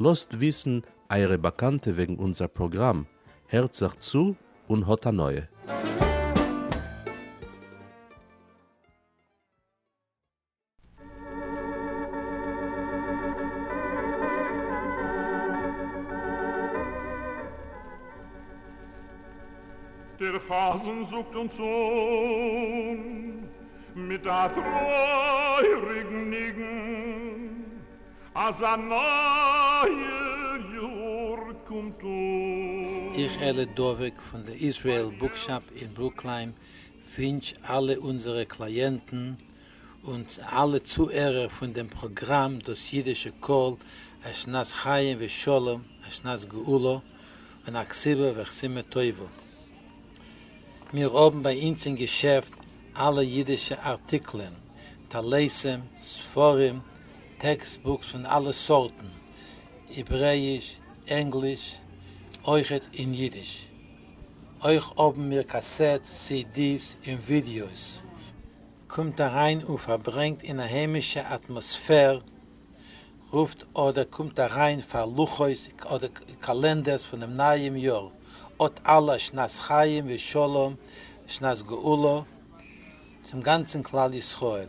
לאזט וויסן אייערע באקאנטע וועגן אונזער פראגראם, הערט זיך צו און האט הנאה! דער חזן זאגט אונז אן מיט א טרויעריגן ניגון. אז א נייער יאר קומט אן. איך אלי דבק פון די איזרעיל בוקשאפ אין ברוקלין ווינטש אלע אונזערע קלייענטן און אלע צוהערער פון דעם פראגראם דאס אידישע קול א שנת חיים ושלום א שנת גאולה און א כסבה וחסימה טובה. מיר האבן ביי אונז אין געשעפט אלע אידישע ארטיקלען, טלסים, ספרים, טעקסט בוקס פון אלע סארטן, העברעיש, ענגליש, אויכעט אין אידיש. אויך האבן מיר קאסעט, סי די'ס און ווידיאוס. קומט אריין און פארברענגט אין א היימישע אטמאספער, רופט אדער קומט אריין פאר לוחות אדער קאלענדערס פונעם נייעם יאר, אט אלע שנת חיים ושלום שנת גאולה צום גאנצן כלל ישראל.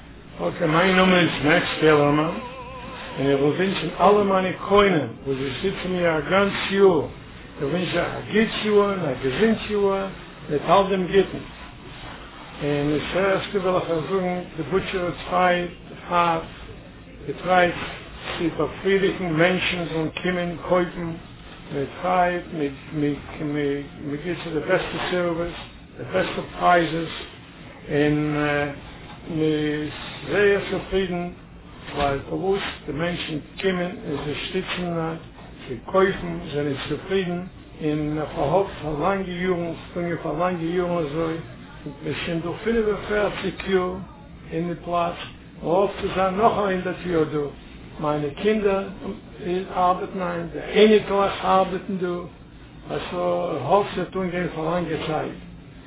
אקעי, מיין נאמען איז מעקס פעלערמאן, און איך וויל ווינטשן אלע מיינע קונים וואס זיי שטיצן מיר א גאנץ יאר, איך ווינטש זיי א גוטס יאר און א געזונט יאר מיט אלט דעם גוטן. און עס הערשט וויל איך אייך זאגן, די בוטשער איז פריי, הארט געטרייט צו באפרידיגן מענטשן זאלן קומען קויפן מיט פרייד, מען גיט זיי די בעסטע סערוויס, די בעסטע פרייזעס. און מען איז זייער צופרידן ווייל פארוואס די מענטשן קומען און זיי שטיצן זיי קויפן זענען צופרידן און מען פארהאפט פאר לאנגע יארן ס'געגאנגען פאר לאנגע יארן אזוי און מען איז שוין דא פֿינף און פֿערציק יאר אין די פלאץ מען האפט צו זיין נאך א הונדערט יאר דא מיינע קינדער ארבעטן היינט די אייניקלעך ארבעטן דא אז ס'האפט ס'וועט אנגיין פאר לאנגע צייט.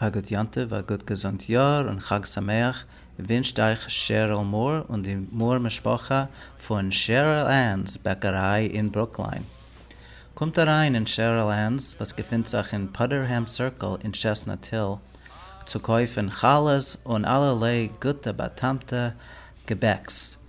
א גוט יום טוב א גוט געזונט יאר און חג שמח ווינטשט אייך שעריל מאר און די מאר משפחה פון שעריל ענס בעקעריי אין ברוקליין. קומט אריין אין שעריל ענס וואס געפינט זיך אין פאדערהעם סירקל אין טשעסנאט היל צו קויפן חלות און אלערליי גוטע באטעמטע געבעקס.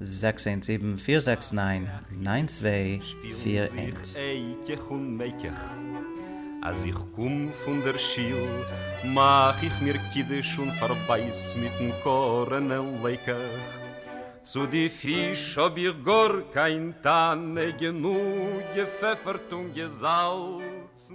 זעקס איינס זיבן פיר זעקס ניין ניין צוויי פיר איינס. שפירן זיך אייקעך און מייקעך. אז איך קום פון דער שיל מאך איך מיר קידוש און פארבייס מיטן קארענע לייקעך. צו די פיש האב איך גאר קיין טענה גענוג געפעפערט און געזאלצן.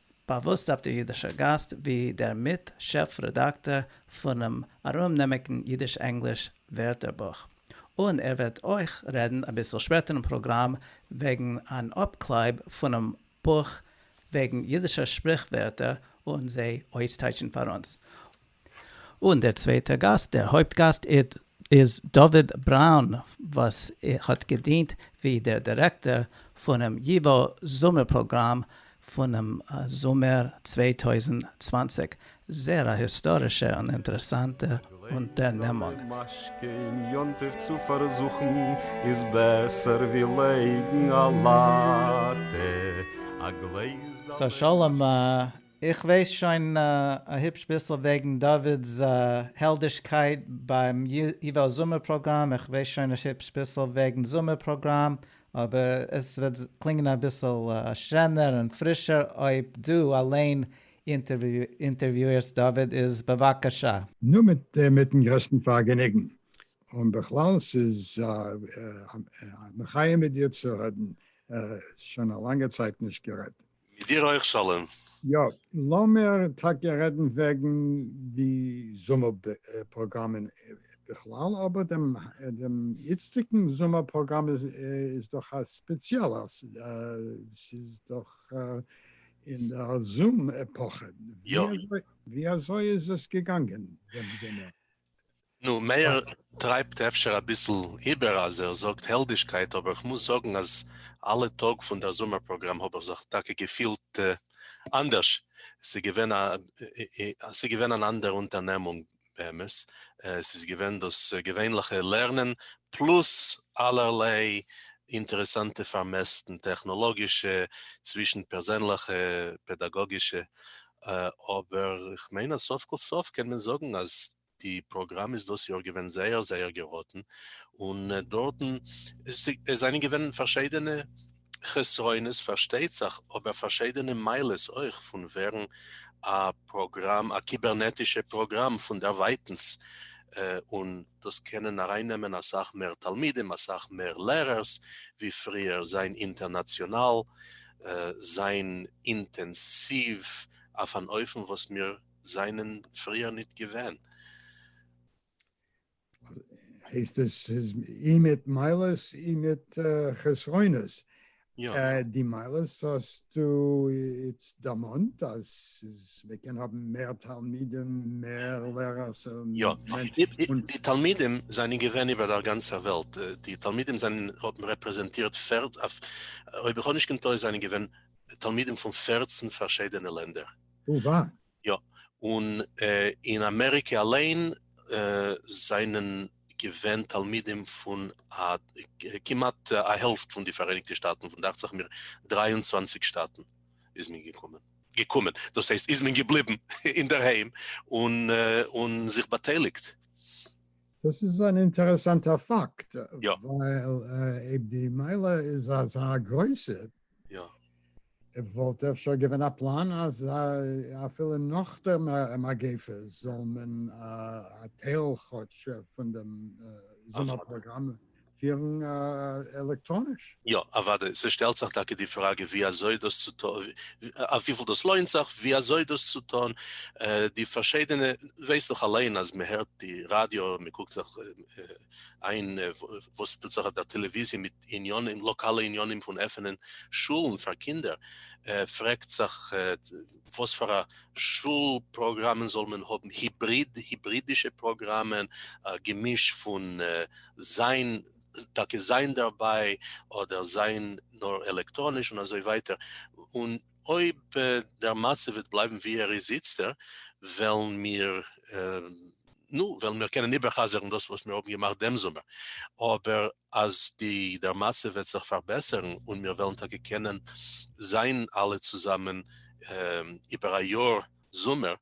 באַוואוסט אויף דער ייִדישער גײַסט ווי דער מיט שעף-רעדאַקטאָר פֿונעם אַרומנעמיקן ייִדיש-ענגליש ווערטערבוך, און ער וועט אויך רעדן אַ ביסל שפּעטער אין פּראָגראַם וועגן אַן אָפּקלײַב פֿונעם בוך וועגן ייִדישע שפּריכווערטער און זיי אויסטײַטשן פֿאַר אונדז, און דער צווייטער גאסט, דער הויפט גאסט, איז דוד בראון וואס האט געדינט ווי דער דירעקטאר פונעם ייווא זומער פראגראם פונעם זומער צוויי טויזנט צוואַנציק, זעהר א היסטארישע און אינטערעסאנטע אונטערנעמונג. געלייגט צוזאמען משקה אין יום טוב צו פארזוכן איז בעסער ווי לייגן א לאטע, א גלעזעלע משקה. סא שלום איך ווייס שוין א היפש ביסל וועגן דוד'ס העלדישקייט ביים ייווא זומער פראגראם, איך ווייס שוין א היפש ביסל וועגן זומער פראגראם, אבער עס וועט קלינגען אביסל שענער און פרישער אויב דו אליין אינטערוויאירסט דוד, איז בבקשה. נו, מיטן גרעסטן פארגעניגן. און בכלל ס'איז א מחיה מיט דיר צו רעדן, שוין א לאנגע צייט נישט גערעדט. מיט דיר אויך שלום. יא, לאמיר טאקע רעדן וועגן די זומער פראגראמען בכלל, אבער דעם איצטיגן זומער פראגראם איז דאך א ספעציעלער, ס'איז דאך אין דער זום עפאכע, ווי אזוי איז עס געגאנגען דעם זומער? נו, מאיר טרייבט אפשר אביסל איבער אז ער זאגט העלדישקייט, אבער כ'מוז זאגן אז אלע טאג פון דער זומער פראגראם האב איך זיך טאקע געפילט אנדערש, ס'איז געווען אן אנדערע אונטערנעמונג באמת, ס'איז געווען דאס געווענליכע לערנען פלאס אלערליי אינטערעסאנטע פארמעסטן, טעכנאלאגישע, צווישן-פערזענליכע, פעדאגאגישע, אבער כ'מיין אז סוף כל סוף קען מען זאגן אז די פראגראם איז דאס יאר געווען זייער זייער געראטן, און דארטן זענען געווען פארשיידענע חסרונות פארשטייט זיך, אבער פארשיידענע מעלות אויך פון ווערן א פראגראם, א קיבערנעטישע פראגראם פון דערווייטענס, און דאס קענען ארייננעמען אסאך מער תלמידים, אסאך מער לערערס ווי פריער, זיין אינטערנאציאנאל. זיין אינטענסיוו אויף אן אופן וואס מיר זענען פריער ניט געווען. הייסט עס ס'איז אי מיט מעלות אי מיט חסרונות. יא. די מעלות האסטו איצט דערמאנט אז ס'איז. מען קען האבן מער תלמידים, מער לערערס, יא, די תלמידים זענען געווען איבער דער גאנצער וועלט, די תלמידים זענען, האבן רעפרעזענטירט, אויב איך האב נישט קיין טעות זענען געווען תלמידים פון פֿערצן פארשידענע לענדער. או ווא. יא, און אין אמעריקע אליין זענען געווען תלמידים פון א, כמעט א העלפט פון די פאראייניגטע שטאטן, פון דאכצעך מיר דרײַ און צוואַנציק שטאטן איז מען געקומען. געקומען, דאס הייסט איז מען געבליבן אינדערהיים און זיך באטייליגט. דאס איז אן אינטערעסאנטער פאקט, ווייל אויב די מעלה איז אזא גרויסע, וואלט אפשר געווען א פלאן אז אפילו נאך דער מגיפה זאל מען א טייל כאטש פון דעם זומער פראגראם פירן עלעקטראניש. יא, אוודאי, ס'שטעלט זיך טאקע די פראגע ווי אזוי דאס צו טון, אויף וויפיל דאס לוינט זיך, ווי אזוי דאס צו טון, די פארשיידענע, וועסט דאך אליין אז מען הערט די ראדיא, מען קוקט זיך איין וואס טוט זיך אויף דער טעלעוויזיע מיט עניינים, לאקאלע עניינים פון עפענען שולן פאר קינדער, פרעגט זיך. וואס פאר א שול פראגראמען זאל מען האבן, היבריד, היברידישע פראגראמען, א געמיש פון זיין, טאקע זיין דערביי, אדער זיין נאר עלעקטראניש און אזוי ווייטער, און אויב דער מצב וועט בלייבן ווי ער איז איצטער, וועלן מיר, נו, וועלן מיר קענען איבער'חזר'ן דאס וואס מיר האבן געמאכט דעם זומער, אבער אז די דער מצב וועט זיך פארבעסערן און מיר וועלן טאקע קענען זיין אלע צוזאמען איבער א יאר זומער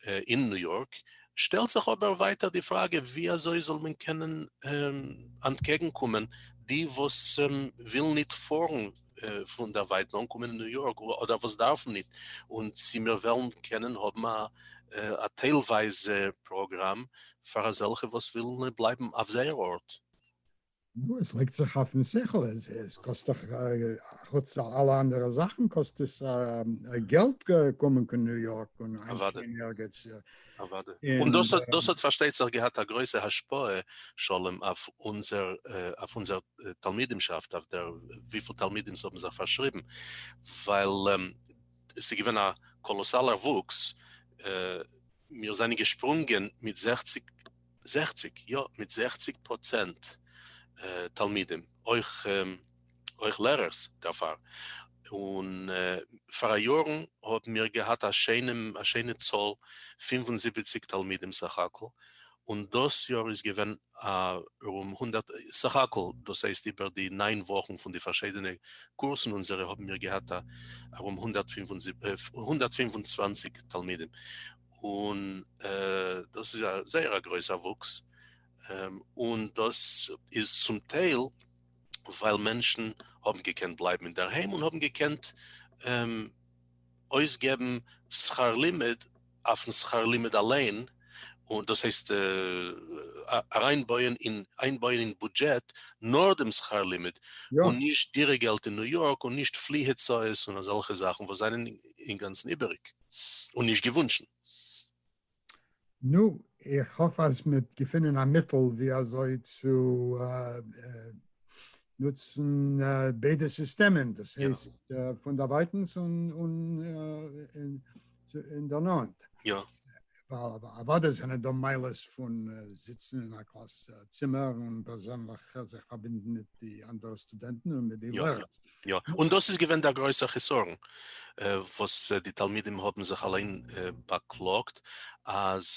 אין ניו יארק, שטעלט זיך אבער ווייטער די פראגע ווי אזוי זאל מען קענען אנטקעגן קומען די וואס ווילן ניט פארן פון דער ווייט נאר אנקומען אין ניו יארק אדער וואס דארפן ניט און צי מיר וועלן קענען האבן א טיילווייזע פראגראם פאר אזעלכע וואס ווילן בלייבן אויף זייער ארט. נו, עס לייגט זיך אויפן שכל, עס קאסט דאך, חוץ אלע אנדערע זאכן, קאסט עס געלט קומען קיין ניו יארק און איינשפרינגען ערגעץ. אוודאי. און דאס האט פארשטייט זיך געהאט א גרויסע השפעה, שלום, אויף אונזער תלמידימשאפט, אויף דער וויפיל תלמידים ס'האבן זיך פארשריבן, ווייל עס איז געווען א קאלאסאלער וואוקס, מיר זענען געשפרונגען מיט זעכציג. זעכציק, יא, מיט זעכציק פראצענט תלמידים, אויך אויך לערערס דערפאר, און פאראיארן האבן מיר געהאט א שיינע א שיינע צאל פֿינף און זיבעציק תלמידים סך הכל, און דאס יאר איז געווען ארום הונדערט סך הכל, דאס הייסט איבער די נײַן וואכן פון די פארשיידענע קורסן אונזערע האבן מיר געהאט ארום הונדערט פֿינף און זיבעציק תלמידים. און דאס איז א זייער א גרויסע וואוקס, און דאס איז צום טייל ווייל מענטשן האבן געקענט בלייבן אינדערהיים און האבן געקענט אויסגעבן שכר לימוד אויפן שכר לימוד אליין, און דאס הייסט אריינבויען אין איינבויען אין בודזשעט נאר דעם שכר לימוד, און נישט דירה געלט אין ניו יארק און נישט פלי הוצאות און אזעלכע זאכן וואס זענען אינגאנצן איבעריג. און נישט געוואונטשן. נו, איך האף אז מ'וועט געפינען א מיטל ווי אזוי צו נוצן ביידע סיסטעמען, דאס הייסט פונדערווייטנס און אינדערנאנט. אוודאי זענען דא מעלות פון זיצן אין א קלאס צימער און פערזענליך זיך פארבינדן מיט די אנדערע סטודענטן און מיט די לערער. יא, און דאס איז געווען דער גרויסער חסרון וואס די תלמידים האבן זיך אליין באקלאגט, אז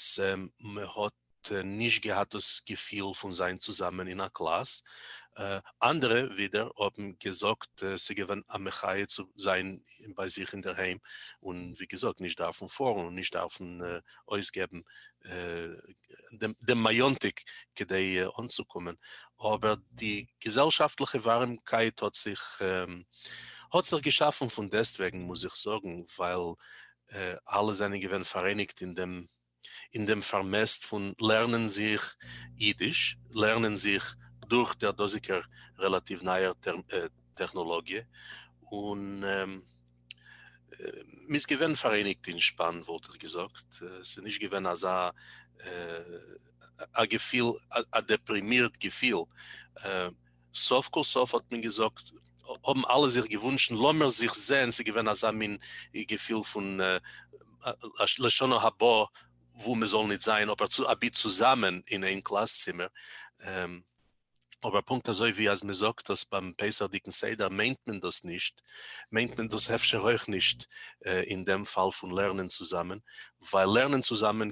מען האט נישט געהאט דאס געפיל פון זיין צוזאמען אין א קלאס, אנדערע ווידער האבן געזאגט ס'געווען א מחיה צו זיין ביי זיך אינדערהיים און ווי געזאגט נישט דארפן פארן און נישט דארפן אויסגעבן דעם מאיאנטיק כדי אנצוקומען, אבער די געזעלשאפטליכע ווארימקייט האט זיך האט זיך געשאפן פון דעסטוועגן מוז איך זאגן ווייל אלע זענען געווען פאראייניגט אין דעם אין דעם פארמעסט פון לערנען זיך אידיש, לערנען זיך דורך דער דאזיגער רעלאטיוו נייער טעכנאלאגיע, און מ'איז געווען פאראייניגט אין שפאן, וואלט איך געזאגט, ס'איז נישט געווען אזא א געפיל, א דעפרימירט געפיל. סוף כל סוף האט מען געזאגט, האבן אלע זיך געוואונטשן, לאמיר זיך זעהן, ס'איז געווען אזא מין געפיל פון לשנה הבאה וואו מ'זאל ניט זיין אבער צו אבי צוזאמען אין איין קלאס צימער, אבער פונקט אזוי ווי אז מ'זאגט דאס ביים פסח'דיגן סדר מיינט מען דאס נישט, מיינט מען דאס אפשר אויך נישט אין דעם פאל פון לערנען צוזאמען, ווייל לערנען צוזאמען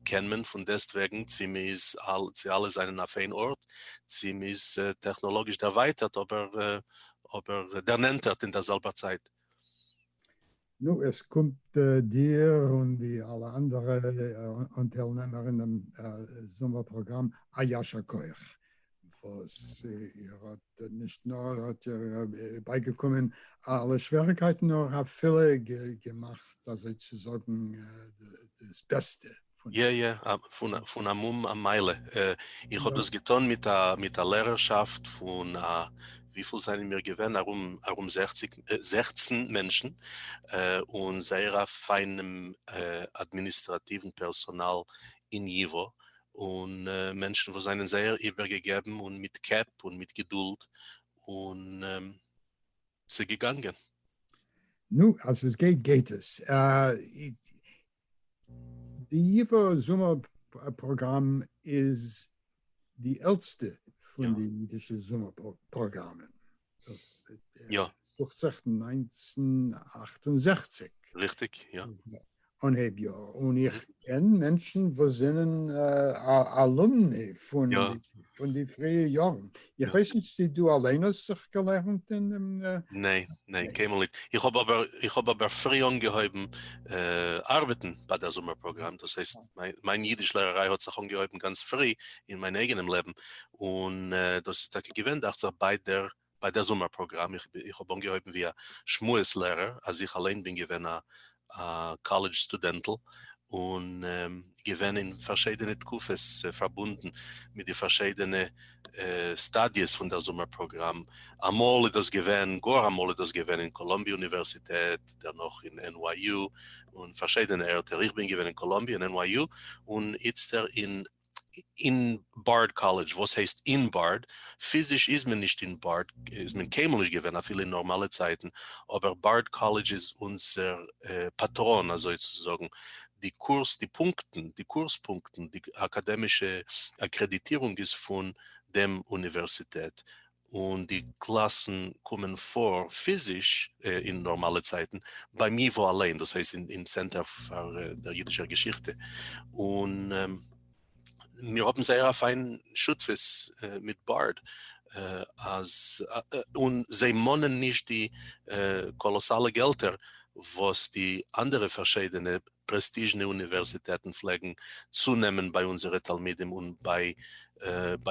קען מען פון דעסטוועגן צו מ'איז צו אלע זענען אויף איין ארט, צו מ'איז טעכנאלאגיש דערווייטערט אבער אבער דערנענטערט אין דער זעלבער צייט. נו, עס קומט דיר און די אלע אנדערע אנטיילנעמער אינעם זומער פראגראם א ישר כח. וואס איר האט נישט נאר האט איר בייגעקומען אלע שוועריקייטן, נאר אפילו געמאכט אזוי צו זאגן דאס בעסטע פון זיי. יא יא, פון א מום א מייל. איך האב דאס געטון מיט א לערערשאפט פון, וויפיל זענען מיר געווען, ארום זעכציג, זעכצן מענטשן, און זייער א פיינעם אדמיניסטראטיוון פערסאנאל אין ייווא, און מענטשן וואס זענען זייער איבערגעגעבן און מיט קעפ און מיט געדולד, און ס'איז געגאנגען. נו, אז עס גייט גייט עס. די ייווא זומער פראגראם איז די עלטסטע פון די אידישע זומער פראגראמען. דאס יא דוכט זיך נײַנצן אַכט און זעכציק. ריכטיג, יא. אנהייב יאר, און איך קען מענטשן וואס זענען אלומני פון פון די פריע יארן, איך ווייס נישט צו דו אליין האסט זיך געלערנט אין דעם. ניין, ניין, קיינמאל נישט, איך האב אבער איך האב אבער פרי אנגעהויבן ארבעטן ביי דער זומער פראגראם, דאס הייסט מיין אידיש לערעריי האט זיך אנגעהויבן גאנץ פרי אין מיין אייגענעם לעבן, און דאס איז טאקע געווען דאכט זיך ביי דער ביי דער זומער פראגראם, איך האב אנגעהויבן ווי א שמועס לערער, אז איך אליין בין געווען א קאלעדזש סטודענטל, און געווען אין פארשיידענע תקופות פארבונדן מיט די פארשיידענע סטאדיעס פון דער זומער פראגראם, אמאל איז דאס געווען, גאר אמאל איז דאס געווען אין קאלאמביע אוניווערסיטעט, דערנאך אין NYU, און פארשיידענע ערטער, איך בין געווען אין קאלאמביע און NYU, און איצטער אין. אין בארד קאלעדזש, וואס הייסט אין בארד? פיזיש איז מען נישט אין בארד, איז מען קיינמאל נישט געווען אפילו אין נארמאלע צייטן, אבער בארד קאלעדזש איז אונזער פאטראן אזוי צו זאגן, די קורס די פונקטן, די קורס פונקטן, די אקאדעמישע אקרעדיטירונג איז פון דעם אוניווערסיטעט, און די גלאסן קומען פאָר פיזיש אין נארמאלע צייטן ביים ייוואָ אליין, דאס הייסט אין צענטער פאר דער יידישער געשיכטע, און מיר האבן זייער א פיין שותפות מיט בארד, אז און זיי מאנען נישט די קאלאסאלע געלטער וואס די אנדערע פארשיידענע פרעסטיזשנע אוניווערסיטעטן פלעגן צונעמען ביי אונזערע תלמידים און ביי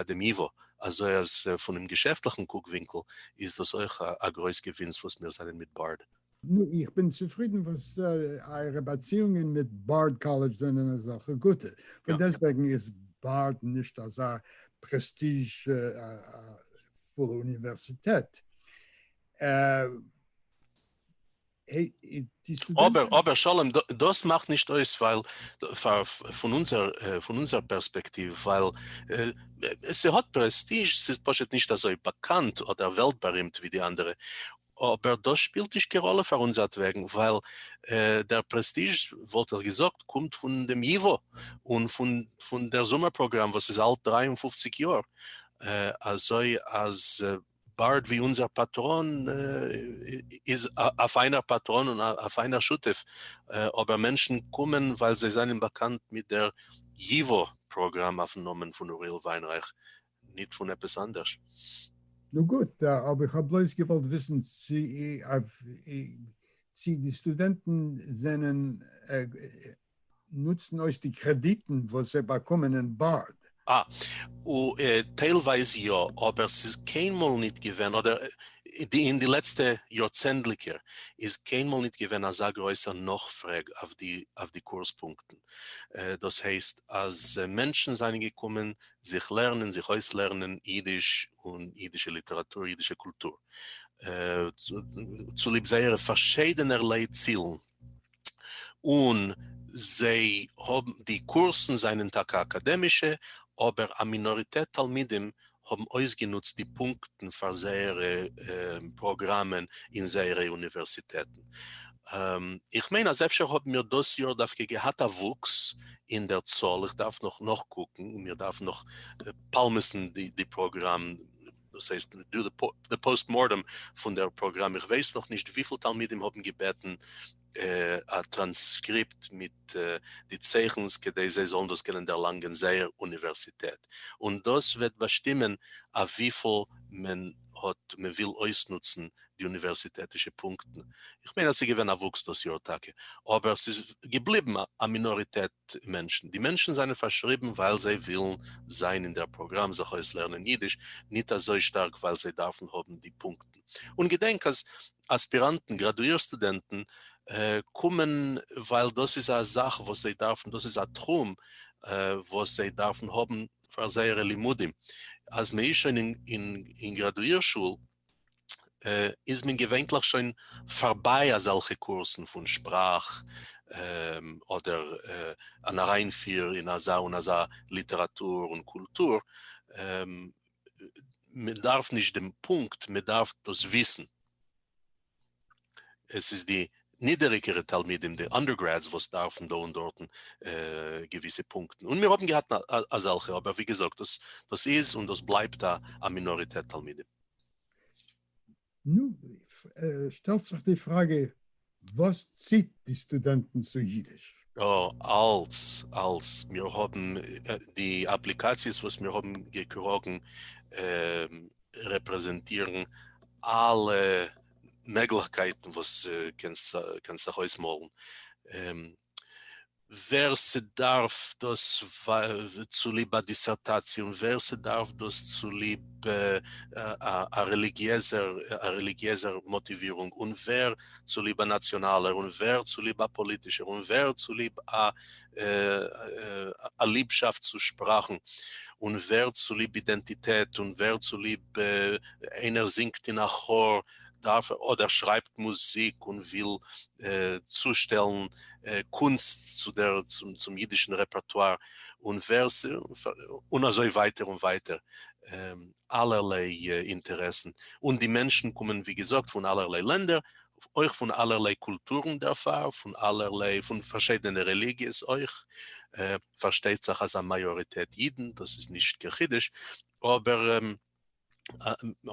דעם ייוואָ. אזוי אז פונעם געשעפטליכן קוק ווינקל איז דאס אויך א גרויס געווינס וואס מיר זענען מיט בארד. נו, איך בין צופרידן וואס אייערע באציאונגען מיט בארד קאלעדזש זענען אזעלכע גוטע, פון דעסטוועגן איז בארד נישט אזא פרעסטיזשפולע אוניווערסיטעט. אבער אבער שלום דאס מאכט נישט אויס ווייל פאר פון אונזער פון אונזער פערספעקטיוו ווייל ס'האט פרעסטיזש ס'איז פשוט נישט אזוי באקאנט אדער וועלט בארימט ווי די אנדערע אבער דאס שפילט נישט קיין ראלע פאר אונזערט וועגן ווייל דער פרעסטיזש וואלט איך געזאגט קומט פון דעם ייווא און פון פון דער זומער פראגראם וואס איז אלט דרײַ און פֿופֿציק יאר אזוי אז בארד ווי אונזער פאטראן איז א פיינער פאטראן און א פיינער שותף, אבער מענטשן קומען ווייל זיי זענען באקאנט מיט דער ייווא פראגראם אויפן נאמען פון אוריאל וויינרייך, ניט פון עפעס אנדערש. נו גוט, אבער איך האב בלויז געוואלט וויסן צי די סטודענטן זענען נוצן אויס די קרעדיטן וואס זיי באקומען אין בארד. אה, טיילווייז יא, אבער ס'איז קיינמאל ניט געווען, אדער אין די לעצטע יארצענדליקער איז קיינמאל ניט געווען אזא גרויסער נאכפרעג אויף די אויף די קורס פונקטן. דאס הייסט אז מענטשן זיינען געקומען זיך לערנען, זיך אויסלערנען אידיש און אידישע ליטעראטור, אידישע קולטור, צוליב זייערע פארשיידענערליי צילן. און זיי האבן, די קורסן זענען טאקע אקאדעמישע, אבער א מינאריטעט תלמידים האבן אויסגענוצט די פונקטן פאר זייערע פראגראמען אין זייערע אוניווערסיטעטן. איך מיין אז אפשר האבן מיר דאס יאר דווקא געהאט א וואוקס אין דער צאל, איך דארף נאך נאכקוקן, מיר דארפן נאך פאלמעסן די פראגראם. דאס הייסט דא די פאוסט מארטעם פון דער פראגראם, איך ווייס נאך נישט וויפיל תלמידים האבן געבעטן א טראנסקריפט מיט די צייכנס כדי זיי זאלן דאס קענען דערלאנגען זייער אוניווערסיטעט, און דאס וועט באשטימען אויף וויפיל מען האט מען וויל אויסנוצן די אוניווערסיטעטישע פונקטן, איך מיין אז ס'איז געווען א וואוקס דאס יאר טאקע, אבער ס'איז געבליבן א מינאריטעט. מענטשן. די מענטשן זענען פארשריבן ווייל זיי ווילן זיין אין דער פראגראם זיך אויסלערנען יידיש, ניט אזוי שטארק ווייל זיי דארפן האבן די פונקטן. און געדענק אז אספיראנטן, גראדואיר סטודענטן, קומען ווייל דאס איז א זאך וואס זיי דארפן, דאס איז א תחום וואס זיי דארפן האבן פאר זייערע לימודים. אז מען איז שוין אין גראדואיר שול, איז מען געווענטליך שוין פארביי אזעלכע קורסן פון שפראך אדער אן אריינפיר אין אזא און אזא ליטעראטור און קולטור, מען דארף נישט דעם פונקט, מען דארף דאס וויסן. עס איז די נידעריגערע תלמידים די אנדערגרעדס וואס דארפן דא און דארטן געוויסע פונקטן, און מיר האבן געהאט אזעלכע, אבער ווי געזאגט דאס דאס איז און דאס בלייבט א א מינאריטעט תלמידים. נו, שטעלט זיך די פראגע וואס ציט די סטודענטן צו אידיש? אה, אלס אלס מיר האבן די אפליקאציעס וואס מיר האבן געקראגן רעפרעזענטירן אלע מעגליכקייטן וואס קענסט זיך אויסמאלן, ווער ס'דארף דאס צוליב א דיסערטאציע און ווער ס'דארף דאס צוליב א רעליגיעזער מאטיווירונג און ווער צוליב א נאציאנאלער און ווער צוליב א פאליטישער און ווער צוליב א. א ליבשאפט צו שפראכן, און ווערד צוליב אידענטיטעט, און ווערד צוליב איינער זינגט אין א כאר, דארף ער, אדער שרייבט מוזיק און וויל צושטעלן קונסט צום אידישן רעפערטואר, און אזוי ווייטער און ווייטער. אלערליי אינטערעסן, און די מענטשן קומען ווי געזאגט פון אלערליי לענדער, אויך פון אלערליי קולטורן דערפאר, פון אלערליי, פון פארשיידענע רעליגיעס אויך, פארשטייט זיך אז א מאיאריטעט אידן, דאס איז נישט קיין חידוש, אבער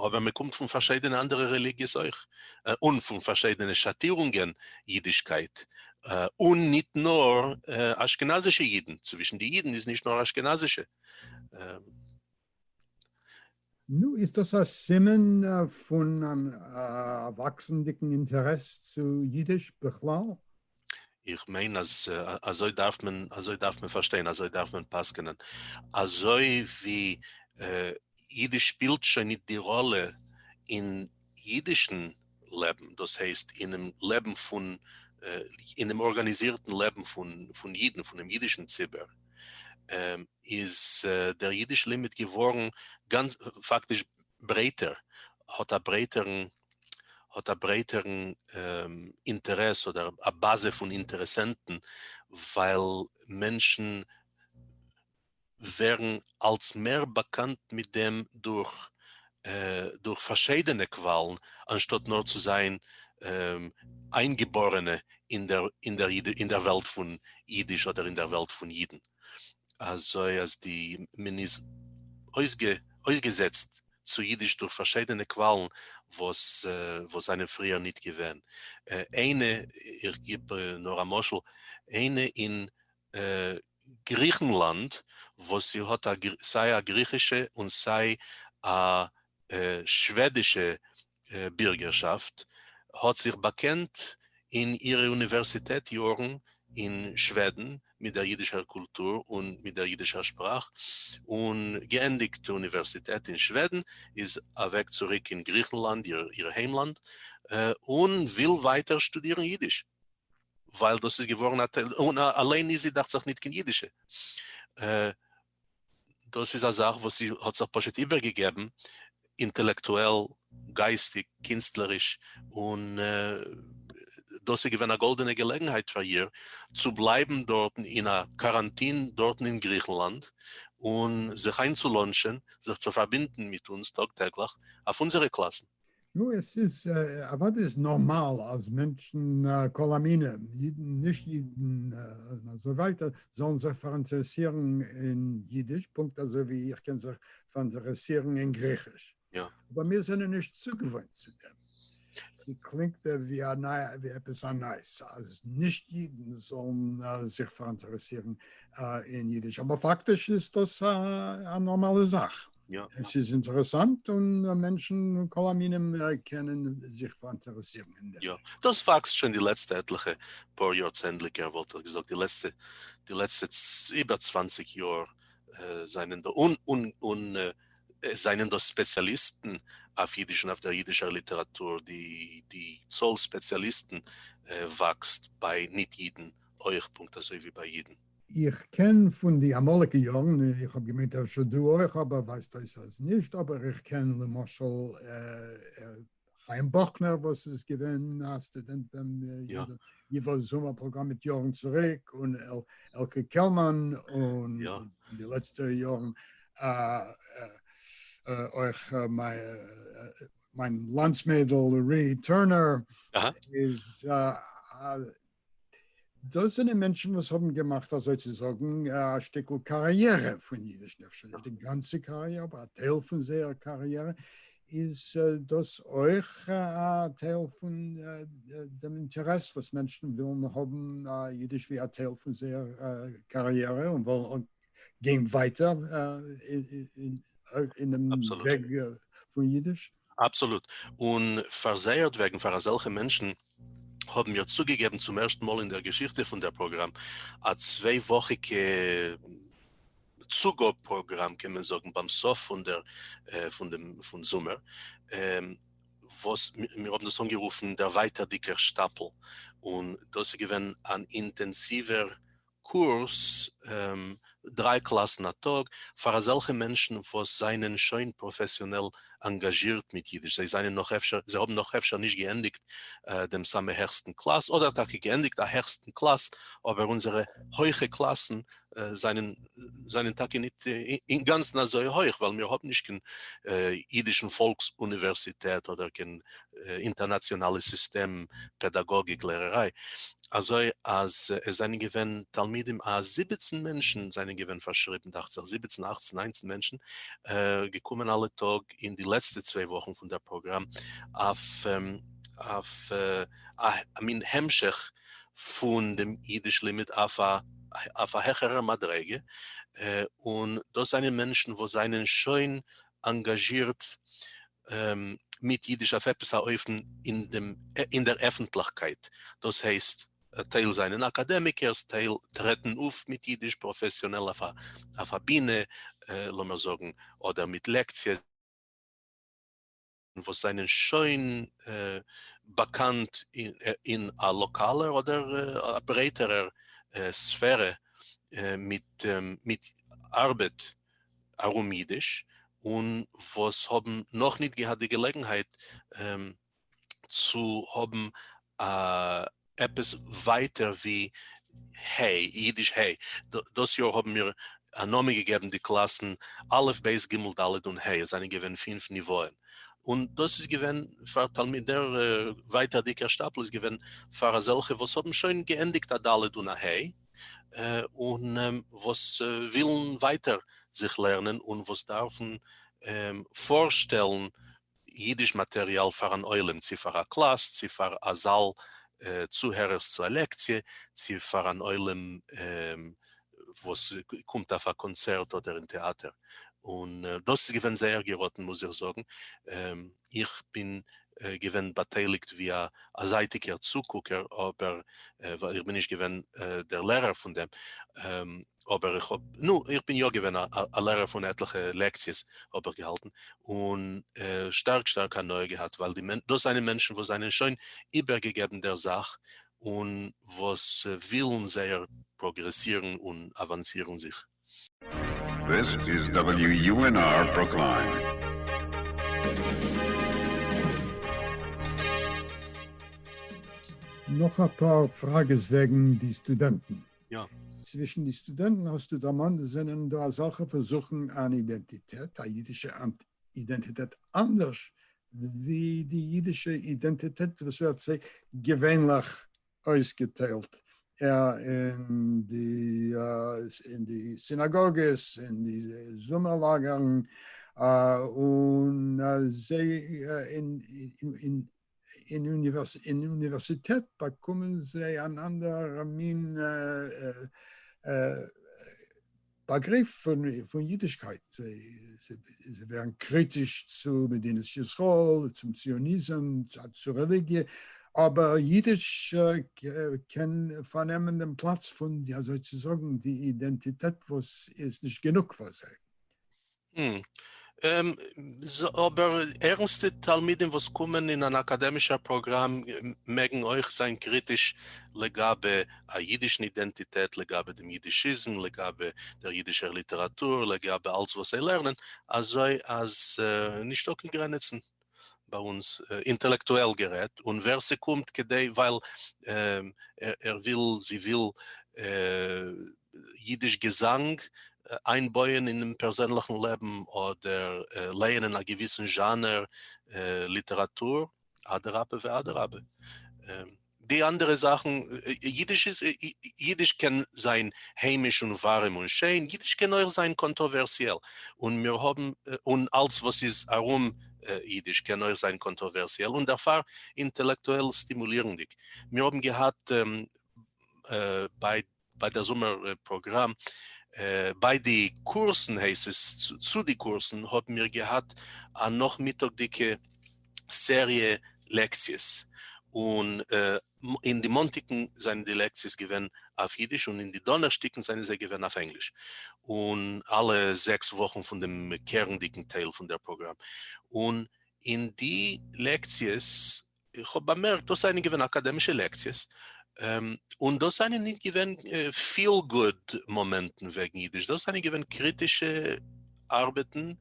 אבער מען קומט פון פארשיידענע אנדערע רעליגיעס אויך, און פון פארשיידענע שאטירונגען אידישקייט, און ניט נאר אשכנזישע אידן, צווישן די אידן איז נישט נאר אשכנזישע. נו, איז דאס א סימן פון אן וואקסנדיגן אינטערעס צו אידיש בכלל? איך מיין אז אזוי דארף מען אזוי דארף מען פארשטיין, אזוי דארף מען פסק'נען. אזוי ווי אידיש שפילט שוין ניט די ראלע אין אידישן. לעבן, דאס הייסט אינעם לעבן פון, אינעם ארגאניזירטן לעבן פון פון אידן, פונעם אידישן ציבור, איז דער אידיש לימוד געווארן גאנץ פאקטיש ברייטער, האט א ברייטערן, האט א ברייטערן אינטערעס אדער א באזע פון אינטערעסענטן, ווייל מענטשן ווערן אלס מער באקאנט מיט דעם דורך דורך פארשיידענע קוואלן אנשטאט נאר צו זיין איינגעבארענע אין דער אין דער אין דער וועלט פון אידיש אדער אין דער וועלט פון אידן אזוי אז די מען איז אויסגע אויסגעזעצט צו אידיש דורך פארשיידענע קוואלן וואס וואס זענען פריער ניט געווען איינע איך גיב נאר א משל איינע אין גריכנלאנד וואס זי האט סיי א גריכישע און סיי א שוועדישע בירגערשאפט האט זיך באקענט אין אירע אוניווערסיטעט יארן אין שוועדן מיט דער אידישער קולטור און מיט דער אידישער שפראך און געענדיגט אוניווערסיטעט אין שוועדן איז אוועק צוריק אין גריכנלאנד איר היימלאנד און וויל ווייטער שטודירן אידיש. ווייל דאס איז געווארן א טייל, און אליין איז זי דאכט זיך ניט קיין אידישע. דאס איז א זאך וואס זי האט זיך פשוט איבערגעגעבן, אינטעלעקטועל, גייסטיק, קינסטלעריש, און דאס איז געווען א גאלדענע געלעגנהייט פאר איר צו בלייבן דארטן אין א קאראנטין דארטן אין גריכנלאנד, און זיך איינצולאנטשען, זיך צו פארבינדן מיט אונז טאג טעגליך אויף אונזערע קלאסן. נו, עס איז אוודאי איז נארמאל אז מענטשן, כל המינים, אידן, נישט אידן, און אזוי ווייטער, זאלן זיך פאראינטערעסירן אין אידיש, פונקט אזוי ווי איך קען זיך פאראינטערעסירן אין גריכיש. אבער מיר זענען נישט צוגעוואוינט צו דעם. ס'קלינגט ווי א ניי, ווי עפעס א נייעס, אז נישט אידן זאלן זיך פאראינטערעסירן אין אידיש, אבער פאקטיש איז דאס א נארמאלע זאך. עס איז אינטערעסאנט און מענטשן מכל המינים קענען זיך פאראינטערעסירן אין דעם. יא, דאס וואקסט שוין די לעצטע עטליכע פאר יאר צענדליגער, וואלט איך געזאגט, די לעצטע די לעצטע איבער צוואַנציק יאר זענען דא און און און עס זענען דא ספעציאליסטן אויף אידיש און אויף דער אידישער ליטעראטור, די די צאל ספעציאליסטן וואקסט ביי ניט-אידן אויך פונקט אזוי ווי ביי אידן. איך קען פון די אמאליגע יארן, איך האב געמיינט אפשר דו אויך אבער ווייזט אויס אז נישט, אבער איך קען למשל חיים באכנער וואס איז געווען א סטודענט ביים ייווא זומער פראגראם מיט יארן צוריק, און עלקי קעלמאן און אין די לעצטע יארן אויך מיין לאנדס מיידל רי טורנער איז דאס זענען מענטשן וואס האבן געמאכט אזוי צו זאגן א שטיקל קאריערע פון אידיש, אפשר נישט די גאנצע קאריערע, אבער א טייל פון זייער קאריערע, איז דאס אויך א טייל פון דעם אינטערעס וואס מענטשן ווילן האבן אידיש ווי א טייל פון זייער קאריערע און וועלן גיין ווייטער אינעם וועג פון אידיש. אבסאלוט, און פאר זייערט וועגן, פאר אזעלכע מענטשן, האבן מיר צוגעגעבן צום ערשטן מאל אין דער געשיכטע פון דער פראגראם א צוויי וואכיגע צוגאב פראגראם קען מען זאגן ביים סוף פון דער פון דעם פון זומער וואס מיר האבן דאס אנגערופן דערווייטערדיגער שטאפל און דאס איז געווען אן אינטענסיווער קורס, דריי קלאסן א טאג, פאר אזעלכע מענטשן וואס זענען שוין פראפעסיאנעל אנגאזשירט מיט אידיש, זיי זענען נאך אפשר, זיי האבן נאך אפשר נישט געענדיגט דעם סאמע העכסטן קלאס, אדער טאקע געענדיגט א העכסטן קלאס, אבער אונזערע הויכע קלאסן זענען זענען טאקע נישט אינגאנצן אזוי הויך, ווייל מיר האבן נישט קיין אידישן פאלקס אוניווערסיטעט אדער קיין אינטערנאציאנאלע סיסטעם פעדאגאגיק לערעריי, אזוי אז עס זענען געווען תלמידים א זיבעצן מענטשן זענען געווען פארשריבן דאכט זיך זיבעצן אכצן ניינצן מענטשן געקומען אלע טאג אין די לעצטע צוויי וואכן פון דער פראגראם אויף א מין המשך פון דעם אידיש לימוד אויף א העכערער מדריגה, און דאס זענען מענטשן וואס זענען שוין אנגאזשירט מיט אידיש אויף עפעס א אופן אין דער עפנטליכקייט, דאס הייסט, טייל זענען אקאדעמיקערס, טייל טרעטן אויף מיט אידיש פראפעסיאנעל אויף א בינע, לאמיר זאגן, אדער מיט לעקציעס, וואס זענען שוין באקאנט אין א לאקאלער אדער א ברייטערער ספערע מיט ארבעט ארום אידיש, און וואס האבן נאכניט געהאט די געלעגנהייט צו האבן אה, עפעס ווייטער ווי ה', אידיש ה'. דאס יאר האבן מיר א נאמען געגעבן די קלאסן א', ב', ג', ד' און ה', עס זענען געווען פינף ניוואען, און דאס איז געווען פאר תלמיד, דער ווייטערדיגער שטאפל איז געווען פאר אזעלכע וואס האבן שוין געענדיגט א ד' און א ה', און וואס ווילן ווייטער זיך לערנען, און וואס דארפן פארשטעלן אידיש מאטריאל פאר אן עולם, צו פאר א קלאס, צו פאר א זאל צוהערערס צו א לעקציע, צו פאר אן עולם וואס קומט אויף א קאנצערט אדער אין טעאטער, און דאס איז געווען זייער געראטן מוז איך זאגן, איך בין געווען באטייליגט ווי א זייטיגער צוקוקער אבער ווייל איך בין נישט געווען דער לערער פון דעם. אבער איך האב, נו, איך בין יא געווען א לערער פון עטליכע לעקציעס האב איך געהאלטן, און שטארק שטארק הנאה געהאט, ווייל די מענ, דאס זענען מענטשן וואס זענען שוין איבערגעגעבן דער זאך, און וואס ווילן זייער פראגרעסירן און אוואנסירן זיך. This is WUNR Brookline. נאך אפאר פראגעס וועגן די סטודענטן. יא. צווישן די סטודענטן האסטו דערמאנט זענען דא אזעלכע וואס זוכן אן אידענטיטעט, א אידישע אידענטיטעט אנדערש ווי די אידישע אידענטיטעט וואס ווערט זיי געווענליך אויסגעטיילט אין די סינאגאגעס, אין די זומער לאגערן, און זיי אין אוניווערסיטעט באקומען זיי אן אנדערע מין באגריף פון אידישקייט, זיי ווערן קריטיש צו מדינת ישראל, צום ציוניזם, צו רעליגיע, אבער אידיש קען פארנעמען דעם פלאץ פון אזוי צו זאגן די אידענטיטעט וואס איז נישט גענוג פאר זיי. ם, און ז, אבער ערנסטע תלמידים וואס קומען אין אן אקאדעמישער פראגראם מעגן אויך זיין קריטיש לגבי א אידישן אידענטיטעט, לגבי דעם אידישיזם, לגבי דער אידישער ליטעראטור, לגבי אלץ וואס זיי לערנען, אזוי אז נישטא קיין גרעניצן. ביי אונז אינטעלעקטועל גערעדט, און ווער ס'קומט כדי ווייל ער וויל זי וויל אידיש געזאנג איינבויען אינעם פערזענליכן לעבן אדער לייענען א געוויסן זשאנער ליטעראטור אדרבה ואדרבה. די אנדערע זאכן, אידיש איז אידיש קען זיין היימיש און ווארעם און שיין, אידיש קען אויך זיין קאנטראווערסיעל, און מיר האבן, און אלס וואס איז ארום אידיש קען אויך זיין קאנטראווערסיעל און דערפאר אינטעלעקטועל סטימולירנדיג, מיר האבן געהאט ביי ביי דער זומער פראגראם, ביי די קורסן הייסט עס, צו די קורסן האבן מיר געהאט א נאכמיטאג'דיגע סעריע לעקציעס, און אין די מאנטאגן זענען די לעקציעס געווען אויף אידיש, און אין די דאנערשטאגן זענען זיי געווען אויף ענגליש, און אלע זעקס וואכן פון דעם קערנדיגן טייל פון דער פראגראם, און אין די לעקציעס איך האב באמערקט דאס זענען געווען אקאדעמישע לעקציעס, און דאס זענען נישט געווען פיל גוד מאמענטן וועגן אידיש, דאס זענען געווען קריטישע ארבעטן,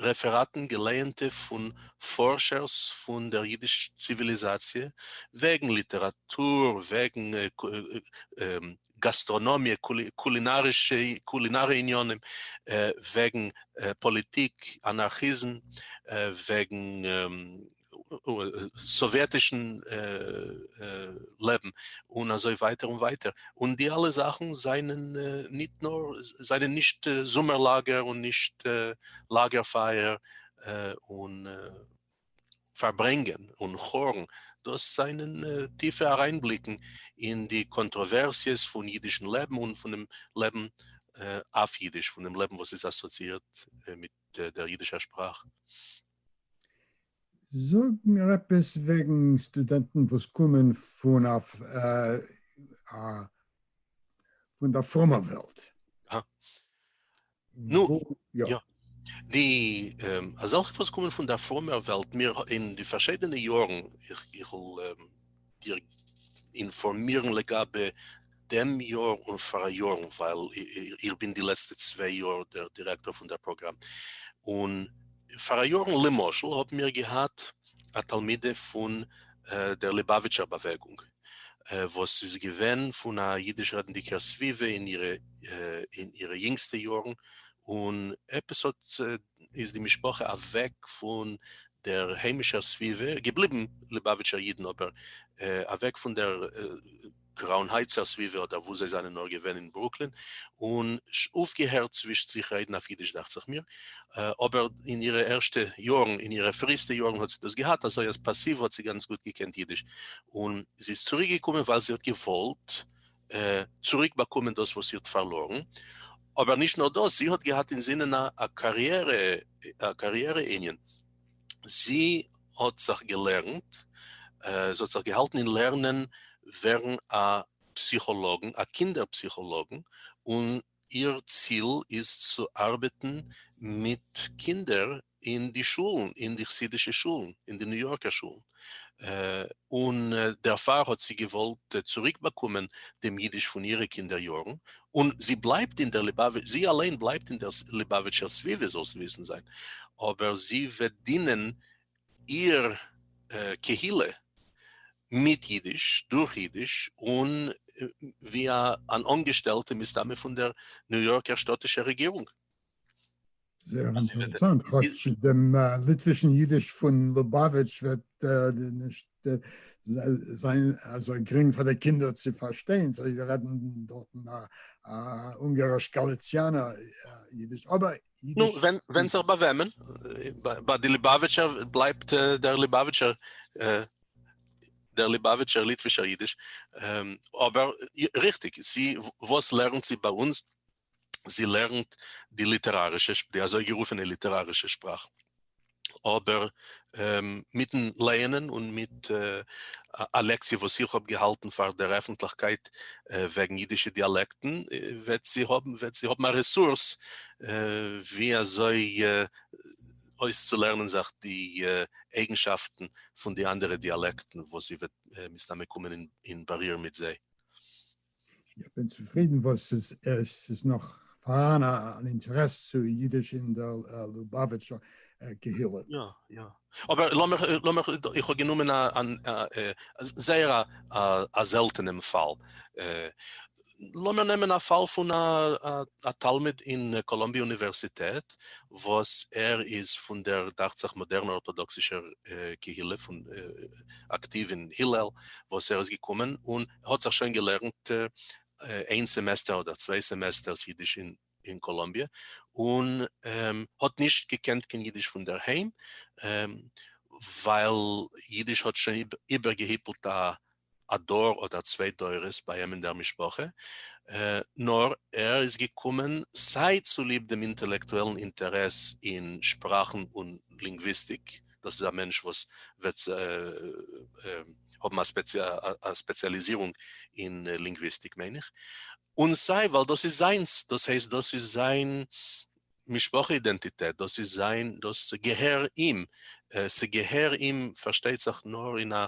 רעפעראטן געלייענטע פון פארשערס פון דער אידיש ציוויליזאציע, וועגן ליטעראטור, וועגן גאסטראנאמיע, קולינארישע עניינים, וועגן פאליטיק, אנארכיזם, וועגן סאוויעטישן לעבן, און אזוי ווייטער און ווייטער, און די אלע זאכן זענען ניט נאר, זענען נישט זומער לאגער און נישט לאגער פייער און פארברענגען און חורן, דאס זענען טיפע אריינבליקן אין די קאנטראווערסיעס פון אידישן לעבן און פונעם לעבן אויף אידיש, פונעם לעבן וואס איז אסאציאירט מיט דער אידישער שפראך. זאג מיר עפעס וועגן סטודענטן וואס קומען פון דער פרומער וועלט. נו, יא. די אזעלכע וואס קומען פון דער פרומער וועלט, מיר אין די פארשיידענע יארן, איך וועל דיר אינפארמירן לגבי דעם יאר און פאראיארן, ווייל איך בין די לעצטע צוויי יאר דער דירעקטאר פון דער פראגראם, און פאראיארן למשל האבן מיר געהאט א תלמידה פון דער ליבאוויטשער באוועגונג, וואס איז געווען פון א אידיש רעדנדיגער סביבה אין אירע יונגסטע יארן, און עפעס האט איז די משפחה אוועק פון דער היימישער סביבה, געבליבן ליבאוויטשער אידן אבער אוועק פון דער קראון הייטסער סביבה אדער וואו זיי זענען נאר געווען אין ברוקלין, און אויפגעהערט צווישט זיך רעדן אויף אידיש דאכט זיך מיר, אבער אין אירע ערשטע יארן, אין אירע פריסטע יארן האט זי דאס געהאט, אזוי אז פאסיוו האט זי גאנץ גוט געקענט אידיש, און זי איז צוריק געקומען ווייל זי האט געוואלט צוריק באקומען דאס וואס זי האט פארלארן, אבער נישט נאר דאס, זי האט געהאט אינזינען א קאריערע, א קאריערע ענין, זי האט זיך געלערנט, זי האט זיך געהאלטן אין לערנען ווערן א פסיכאלאגן, א קינדער פסיכאלאגן, און איר ציל איז צו ארבעטן מיט קינדער אין די שולן, אין די חסידישע שולן, אין די ניו יארקער שולן, און דערפאר האט זי געוואלט צוריקבאקומען דעם אידיש פון אירע קינדער יארן, און זי בלייבט אין דער, זי אליין בלייבט אין דער ליבאוויטשער סביבה, זאלסט וויסן זיין, אבער זי וועט דינען איר קהילה מיט אידיש, דורך אידיש, און ווי אן אנגעשטעלטע מסתמא פון דער ניו יארקער שטאטישער רעגירונג. זייער אינטערעסאנט, כאטש דעם ליטווישן אידיש פון לובאוויטש וועט נישט זיין אזוי גרינג פאר די קינדער צו פארשטיין, זיי רעדן דארטן א אונגאריש-גאליציאנער אידיש, אבער. נו, ווענדט זיך ביי וועמען, ביי די ליבאוויטשער בלייבט דער ליבאוויטשער, דער ליבאוויטשער ליטווישער אידיש, אבער ריכטיג, זי וואס לערנט זי ביי אונז? זי לערנט די ליטערארישע, די אזוי גערופענע ליטערארישע שפראך. אבער מיטן לייענען און מיט א לעקציע וואס איך האב געהאלטן פאר דער עפנטליכקייט וועגן אידישע דיאלעקטן, וועט זי האבן א רעסורס ווי אזוי אויסצולערנען זיך די אייגנשאפטן פון די אנדערע דיאלעקטן וואס זי וועט מסתמא קומען אין באריר מיט זיי. איך בין צופרידן וואס ס'איז ס'איז נאך פארהאן אן אינטערעס צו אידיש אין דער לובאוויטשער קהילה. יא יא. אבער לאמיך לאמיך איך האב גענומען א זייער א זעלטענעם פאל. לאמיר נעמען א פאל פון א תלמיד אין קאלאמביע אוניווערסיטעט וואס ער איז פון דער דאכט זיך מאדערנער ארטאדאקסישער קהילה פון אקטיוו אין הילל וואס ער איז געקומען און ער האט זיך שוין געלערנט איין סעמעסטער אדער צוויי סעמעסטערס אידיש אין קאלאמביע, און האט נישט געקענט קיין אידיש פון דער היים, ווייל אידיש האט שוין איבערגעהיפלט א דור אדער צוויי דורות ביי אים אין דער משפחה, נאר ער איז געקומען סיי צוליב דעם אינטעלעקטועלן אינטערעס אין שפראכן און לינגוויסטיק, דאס איז א מענטש וואס וועט האבן א ספעציאליזירונג אין לינגוויסטיק מיין איך, און סיי ווייל דאס איז זיינס, דאס הייסט דאס איז זיין משפחה אידענטיטעט, דאס איז זיין, דאס געהער אים, ס'געהער אים פארשטייט זיך נאר אין א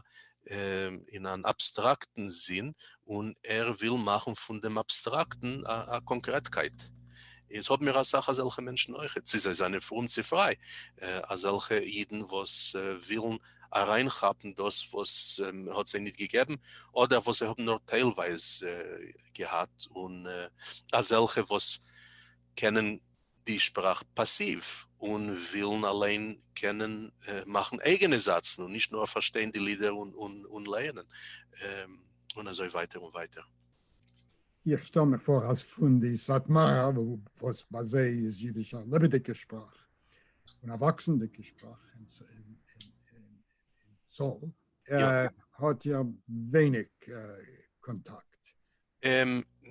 אין אן אבסטראקטן זין, און ער וויל מאכן פון דעם אבסטראקטן א קאנקרעטקייט. איז האבן מיר אסאך אזעלכע מענטשן אויכעט, צו זיי זענען פרום צו פריי, אזעלכע אידן וואס ווילן אריינכאפן דאס וואס מען האט זיי ניט געגעבן, אדער וואס זיי האבן נאר טיילווייז געהאט, און אזעלכע וואס קענען די שפראך פאסיוו און ווילן אליין קענען מאכן אייגענע זאצן און נישט נאר פארשטיין די לידער און לייענען און אזוי ווייטער און ווייטער. איך שטעל מיך פאר אז פון די סאטמארע וואס ביי זיי איז אידיש א לעבעדיגע שפראך און א וואקסנדיגע שפראך אין צאל האט איר ווייניג קאנטאקט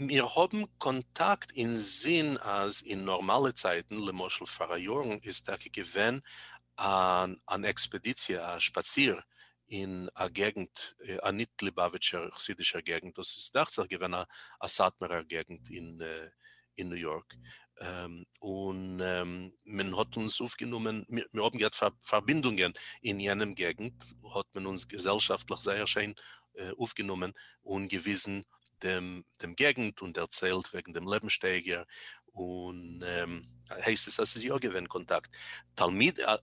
מיר האבן קאנטאקט אינזין אז אין נארמאלע צייטן, למשל פאראיארן איז טאקע געווען אן עקספעדיציע א שפאציר אין א געגנט א ניט ליבאוויטשער חסידישער געגנט דאס איז דאכצעך געווען א סאטמארער געגנט אין אין ניו יארק, און מען האט אונז אויפגענומען, מיר האבן געהאט פארבינדונגען אין יענעם געגנט, האט מען אונז געזעלשאפטליך זייער שיין אויפגענומען, און געוויזן דעם געגנט, און דערציילט וועגן דעם לעבנסשטייגער, און הייסט עס אז ס'איז יא געווען קאנטאקט,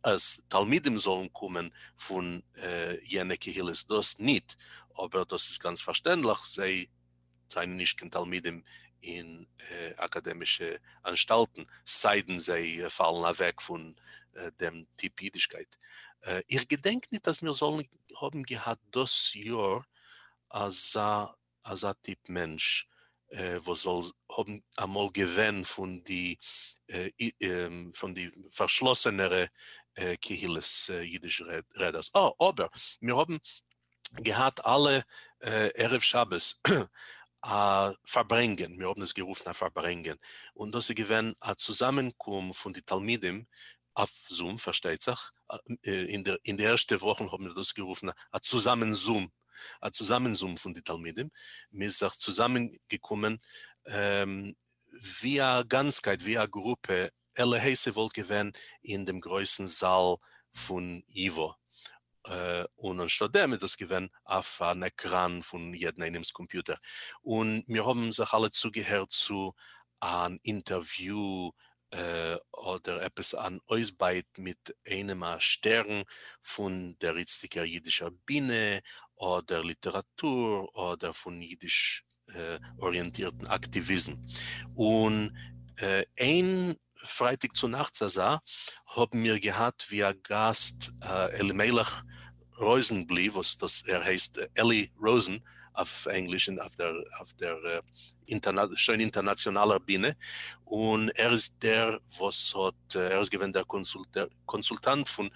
אז תלמידים זאלן קומען פון יענע קהילות דאס ניט, אבער דאס איז גאנץ פארשטענדליך, זיי. זענען נישט קיין תלמידים אין אקאדעמישע אנשטאלטן, סיידן זיי פאלן אוועק פון דעם טיפ אידישקייט. איך געדענק ניט אז מיר זאלן האבן געהאט דאס יאר אזא אזא טיפ מענטש וואס זאל האבן אמאל געווען פון די פון די פארשלאסענערע קהילות אידיש רעדערס. אה, אבער מיר האבן געהאט אלע ערב שבת א פארברענגען, מיר האבן עס גערופן א פארברענגען, און דאס איז געווען א צוזאמענקום פון די תלמידים, אויף זום פארשטייט זיך, אין די ערשטע וואכן האבן מיר דאס גערופן א צוזאמען זום, א צוזאמען זום פון די תלמידים, מען איז זיך צוזאמען געקומען ווי א גאנצקייט, ווי א גרופע, עלעהיי ס'וואלט געווען אין דעם גרויסן זאל פון ייווא, און אנשטאט דעם איז דאס געווען אויף אן עקראן פון יעדן איינעמ'ס קאמפיוטער, און מיר האבן זיך אלע צוגעהערט צו אן אינטערוויו אדער עפעס אן אויסבייט מיט איינעם א שטערן פון דער איצטיגער יידישער בינע אדער ליטעראטור אדער פון יידיש אריענטירטן אקטיוויזם, און איין פרייטאג צונאכטס אזא האבן מיר געהאט ווי א גאסט אלימלך ראזענבלי וואס דאס ער הייסט אלי ראזען אויף ענגליש און אויף דער שוין אינטערנאציאנאלער בינע, און ער איז דער וואס האט ער איז געווען דער קאנסולטאנט פון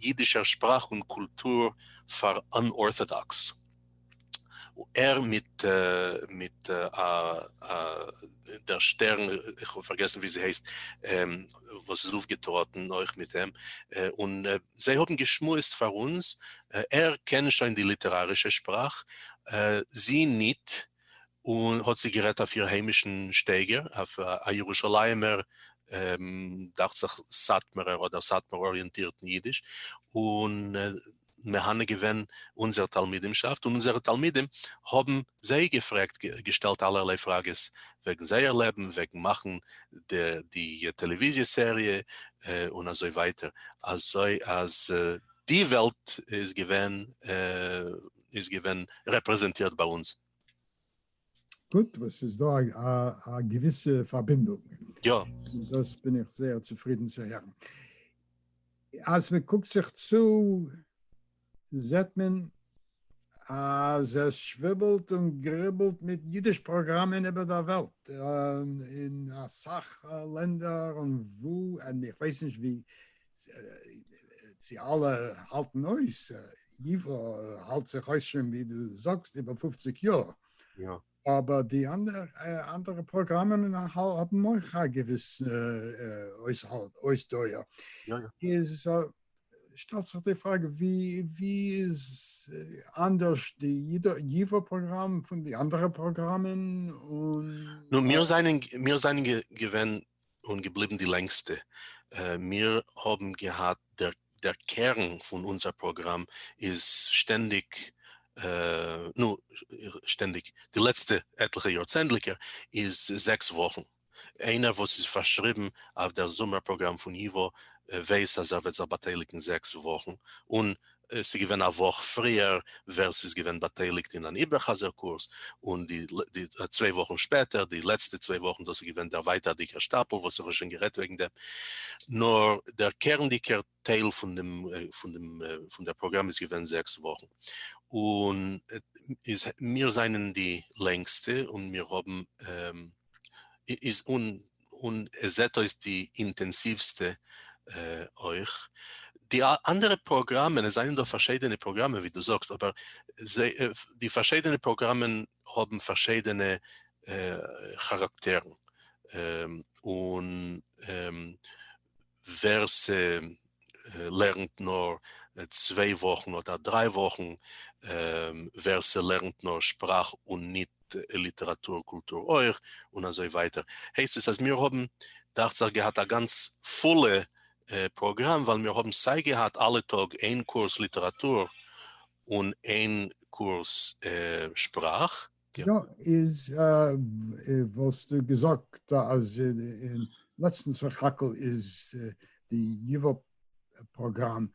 אידישער שפראך און קולטור פאר אנארטאדאקס. ער מיט מיט א א דער שטערן, איך האב פארגעסן ווי זי הייסט, וואס איז אויפגעטראטן אויך מיט אים, און זיי האבן געשמועסט פאר אונז, ער קען שוין די ליטערארישע שפראך, זי ניט, און האט זי גערעדט אויף איר היימישן שטייגער, אויף א ירושלימ'ער, דאכט זיך סאטמארער אדער סאטמאר אריענטירטן אידיש, און מהנה געווען אונזער תלמידימשאפט און אונזערע תלמידים האבן זיי געפרעגט געשטעלט אלערליי פראגעס וועגן זייער לעבן וועגן מאכן די טעלעוויזיע סעריע און אזוי ווייטער אזוי אז די וועלט איז געווען איז געווען רעפרעזענטירט ביי אונז. גוט, וואס ס'איז דא א געוויסע פארבינדונג. יא. דאס בין איך זייער צופרידן צו הערן. אז מען קוקט זיך צו זעט מען אז עס שוויבלט און גריבלט מיט אידיש פראגראמען איבער דער וועלט, אין אסאך לענדער און וואו, און איך ווייס נישט ווי צו אלע האלטן אויס, ייווא האלט זיך אויס שוין ווי דו זאגסט איבער פופציג יאר, אבער די אנדערע פראגראמען האבן אויך א געוויסע אויסדויער, איז שטעלט זיך די פראגע ווי איז אנדערש די ייווא פראגראם פון די אנדערע פראגראמען? און. נו, מיר זענען געווען און געבליבן די לענגסטע. מיר האבן געהאט, דער קערן פון אונזער פראגראם איז שטענדיג, נו, שטענדיג, די לעצטע עטליכע יארצענדליגער איז זעקס וואכן. איינער וואס איז פארשריבן אויף דער זומער פראגראם פון ייווא ווייס אז ער וועט זיך באטייליגן זעקס וואכן און עס איז געווען א וואך פריער ווער ס'איז געווען באטייליגט אין אן איבער חזר קורס, און די צוויי וואכן שפעטער, די לעצטע צוויי וואכן דאס איז געווען דער ווייטערדיגער שטאפל וואס איך האב שוין גערעדט וועגן דעם, נאר דער קערנדיגער טייל פון דעם פון דעם פון דער פראגראם איז געווען זעקס וואכן, און איז מיר זענען די לענגסטע און מיר האבן. איז און און עס זעט אויס די אינטענסיווסטע אויך. די אנדערע פראגראמען, עס זענען דא פארשידענע פראגראמען ווי דו זאגסט, אבער די פארשידענע פראגראמען האבן פארשידענע כאראקטערן און. ווער ס'לערנט נאר צוויי וואכן אדער דריי וואכן, ווער ס'לערנט נאר שפראך און ניט ליטעראטור קולטור אויך, און אזוי ווייטער. הייסט עס אז מיר האבן דאכט זיך געהאט א גאנץ פולע פראגראם, ווייל מיר האבן סיי געהאט אלע טאג איין קורס ליטעראטור און איין קורס שפראך, יא, איז וואלסטו געזאגט אז אין לעצטן סך הכל איז די ייווא פראגראם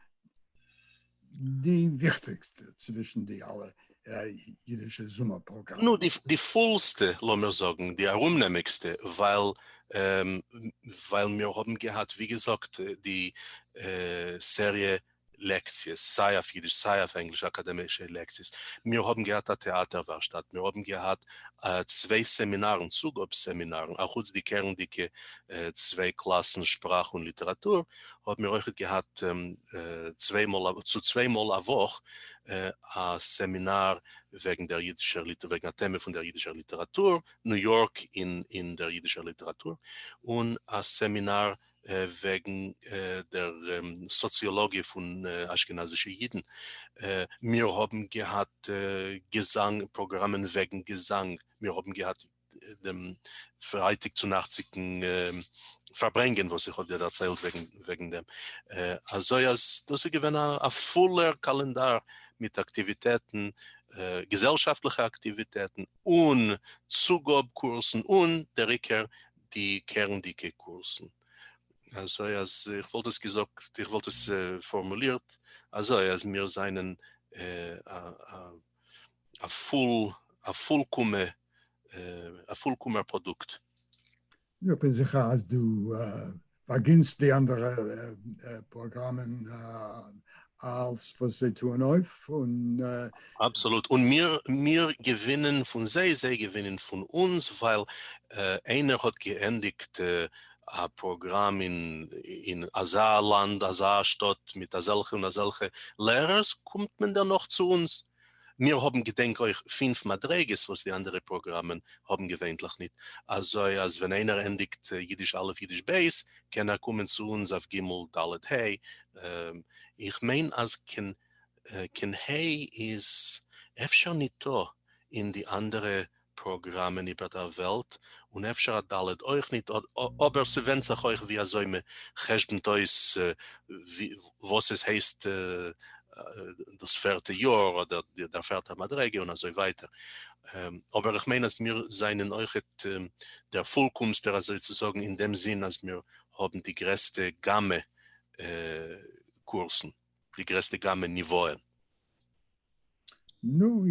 די וויכטיגסטע צווישן די אלע אידישע זומער פראגראמען? נו, די פולסטע, לאמיר זאגן, די ארומנעמיגסטע, ווייל ווייל מיר האבן געהאט ווי געזאגט די סעריע לעקציעס, סיי אויף אידיש סיי אויף ענגליש, אקאדעמישע לעקציעס, מיר האבן געהאט א טעאטער ווארשטאט, מיר האבן געהאט צוויי סעמינארן, צוגאב סעמינארן, אחוץ די קערנדיגע צוויי קלאסן שפראך און ליטעראטור, האבן מיר אויכעט געהאט צוויי מאל צו צוויי מאל א וואך א סעמינאר וועגן דער אידישער ליטער וועגן א טעמע פון דער אידישער ליטעראטור, ניו יארק אין דער אידישער ליטעראטור, און א סעמינאר וועגן דער סאציאלאגיע פון אשכנזישע אידן, מיר האבן געהאט געזאנג פראגראמען וועגן געזאנג, מיר האבן געהאט דעם פרייטאג צונאכט'דיגן פארברענגען וואס איך האב דיר דערציילט וועגן דעם, אזוי אז דאס איז געווען א פולער קאלענדאר מיט אקטיוויטעטן, געזעלשאפטליכע אקטיוויטעטן און צוגאב קורסן, און דער עיקר די קערנדיגע קורסן. אזוי אז איך וואלט עס געזאגט, איך וואלט עס פארמולירט אזוי אז מיר זענען א פול, א פולקאמע, א פולקאמער פראדוקט. איך בין זיכער אז דו אגענסט די אנדערע פראגראמען אלס וואס זיי טוען אויף און. אבסעלוט, און מיר מיר געווינען פון זיי, זיי געווינען פון אונז, ווייל איינער האט געענדיגט א פראגראם אין אין אזא לאנד, אזא שטאט, מיט אזעלכע און אזעלכע לערערס, קומט מען דערנאך צו אונז, מיר האבן געדענק אויך פֿינף מדריגות וואס די אנדערע פראגראמען האבן געווענטליך ניט, אזוי אז ווען איינער ענדיגט אידיש א' אידיש ב' קען ער קומען צו אונז אויף ג' ד' ה', איך מיין אז כנ ה איז אפשר ניטא אין די אנדערע פראגראמען איבער דער וועלט און אפשר א ד' אויך ניט אבער ס'ווענדט זיך אויך ווי אזוי מען חשבונ'ט אויס וואס עס הייסט דאס פערטע יאר אדער דער פערטער מדרגה און אזוי ווייטער אבער איך מיין אז מיר זענען אויכעט דער פולקאמסטער אזוי צו זאגן אין דעם זין אז מיר האבן די גרעסטע גאמע קורסן. די גרעסטע גאמע ניוואען. נו,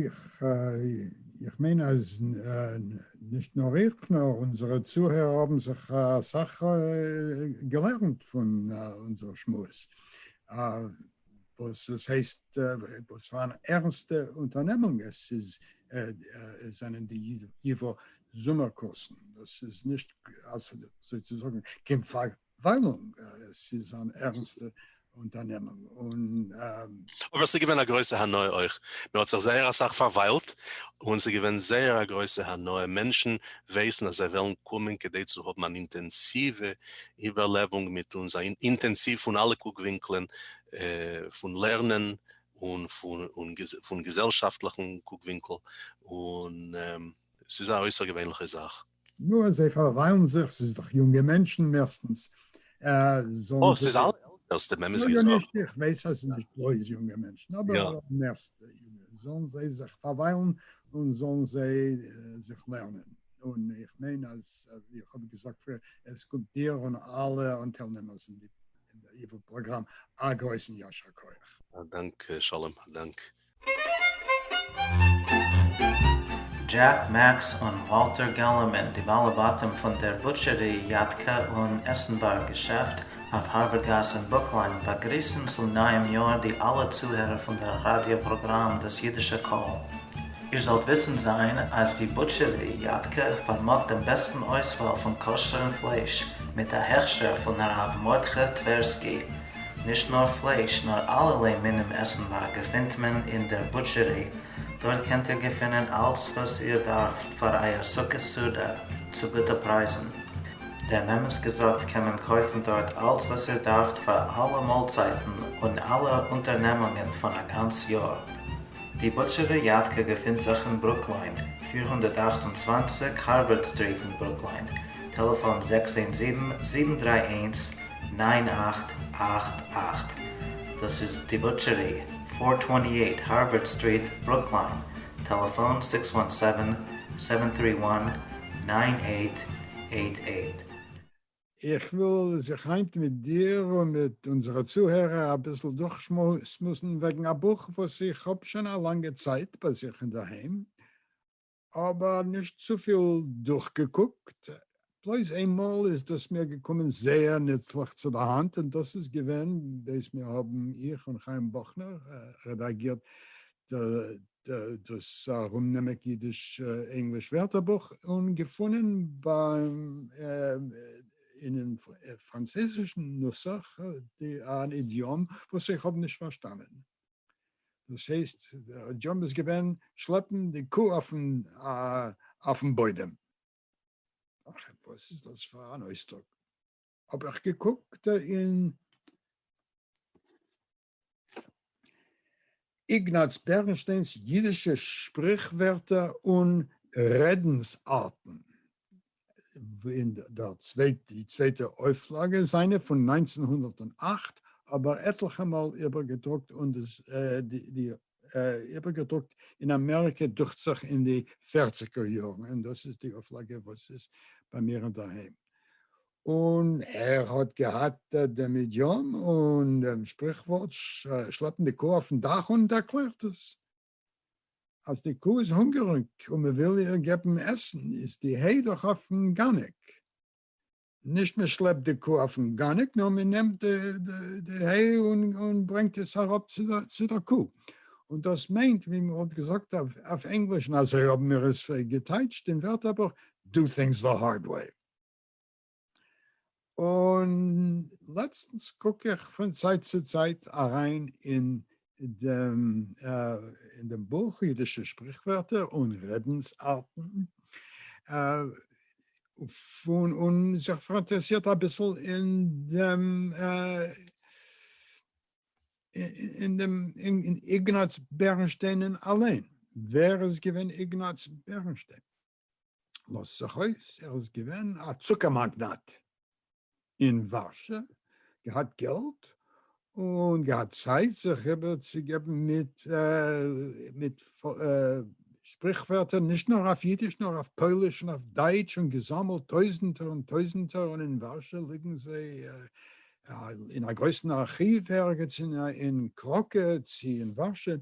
איך מיין אז נישט נאר איך נאר אונזערע צוהערער האבן זיך אסאך געלערנט פון אונזער שמועס, וואס עס הייסט, וואס פאר אן ערנסטע אונטערנעמונג עס איז, זענען די ייווא זומער קורסן, דאס איז נישט, אזוי צו זאגן, קיין וויילונג, עס איז אן ערנסטע אונטערנעמונג און. אבער עס איז געווען א גרויסע הנאה אויך, מען האט זיך זייער אסאך פארוויילט, און עס איז געווען זייער א גרויסע הנאה, מענטשן ווייסן אז זיי וועלן קומען כדי צו האבן אן אינטענסיווע איבערלעבונג מיט אונז, א אינטענסיוו פון אלע קוק ווינקלען, פון לערנען און פון געזעלשאפטליכן קוק ווינקל, און עס איז א אויסערגעווענליכע זאך. נו, זיי פארוויילן זיך, ס'איז דאך יונגע מענטשן מערסטנס, זאלן זיי. ס'איז אלע עלטערס, די מעמעס וויאזוי. יא, נישט, איך ווייס אז ס'איז נישט בלויז יונגע מענטשן, אבער מערסטע יונגע, זאלן זיי זיך פארוויילן און זאלן זיי זיך לערנען, און איך מיין אז ווי איך האב געזאגט פריער, עס קומט דיר און אלע אנטיילנעמערס אין די איוועלט פראגראם א גרויסן ישר כח. א דאנק שלום, א דאנק. דזשעק, מעקס און וואלטער געללערמאן, די בעלי בתים פון דער בוטשערי, יאטקע און עסנווארג געשעפט אויף הארווערד גאס אין ברוקלין, באגריסן צום נייעם יאר די אלע צוהערער פון דער ראדיא פראגראם דאס אידישע קול. איר זאלט וויסן זיין אז די בוטשערי, יאטקע פארמאגט דעם בעסטן אויסוואל פון כשר'ן פלייש, מיט א הכשר פון הרב מרדכי טווערסקי, נישט נאר פלייש נאר אלערליי מינים עסנווארג געפינט מען אין דער בוטשערי, דארט קענט איר געפינען אלץ וואס איר דארפט פאר אייער סוכות סעודה צו גוטע פרייזן. דעם אמת געזאגט קען מען קויפן דארט אלץ וואס איר דארפט פאר אלע מאלצייטן און אלע אונטערנעמונגען פון א גאנץ יאר. די בוטשערי יאטקע געפינט זיך אין ברוקליין, פֿיר הונדערט אַכט און צוואַנציק הארווארד סטריט אין ברוקליין, טעלעפאן זעקס איין זיבן, זיבן דרײַ איינס, נײַן אַכט אַכט אַכט, דאס איז דיבאטשערי, פֿיר צוואַנציק אַכט הארווארד סטריט, ברוקליין, טעלעפאון, זיכס וואן סעווען, סעווען טרי וואן, נײַן אַכט אַכט אַכט. איך וויל זיך היינט מיט דיר און מיט אונזערע צוהערער אביסל דורכשמועסן וועגן א בוך וואס איך האב שוין א לאנגע צייט ביי זיך אינדערהיים, אבער נישט צופיל דורכגעקוקט, בלויז איינמאל איז דאס מיר געקומען זייער נוצליך צו די האנט, און דאס איז געווען בעת מיר האבן, איך און חיים באכנער, רעדאגירט דאס ארומנעמיק אידיש-ענגליש ווערטערבוך און געפונען ביים אינעם פראנצויזישן נוסח אן אידיאם וואס איך האב נישט פארשטאנען. דאס הייסט דער דזשאב איז געווען שלעפן די קו אויפן אויפן בוידעם. אכער וואס איז דאס פאר אן אויסדרוק? האב איך געקוקט אין איגנאץ בערנשטיין'ס אידישע שפריכווערטער און רעדנס ארטן, אין דער צווייט די צווייטע אויפלאגע זיינע פון נײַנצן הונדערט און אַכט, אבער עטליכע מאל איבערגעדרוקט און דאס די איבערגעדרוקט אין אמעריקע דוכט זיך אין די פערציגער יארן, און דאס איז די אויפלאגע וואס איז ביי מיר אינדערהיים. און ער האט געהאט דעם אידיאם און דעם שפריכווארט שלעפן די קוה אויפן דאך און ער ערקלערט עס. אז די קוה איז הונגעריג און מען וויל איר געבן עסן איז די ה' דאך אויפן גאניק, נישט מען שלעפט די קוה אויפן גאניק נאר מען נעמט די ה' און ברענגט עס אראפ צו דער קוה, און דאס מיינט ווי מען וואלט געזאגט אויף ענגליש און אזוי האבן מיר עס געטייטשט אין ווערטערבוך, דו טינגס די הארד וועי. און לעצטנס קוק איך פון צייט צו צייט אריין אין דעם אין דעם בוך אידישע שפריכווערטער און רעדנס-ארטן, פון און זיך פאראינטערעסירט אביסל אין דעם אין דעם איגנאץ בערנשטיין אליין, ווער איז געווען איגנאץ בערנשטיין? לאזט זיך אויס ער איז געווען א צוקער מאגנאט אין ווארשע, געהאט געלט און געהאט צייט זיך איבער צו געבן מיט מיט שפריכווערטער נישט נאר אויף אידיש נאר אויף פויליש און אויף דייטש און געזאמעלט טויזענטער און טויזענטער און אין ווארשע ליגן זיי אין א גרויסן ארכיוו ערגעץ אין קראקע צי אין ווארשע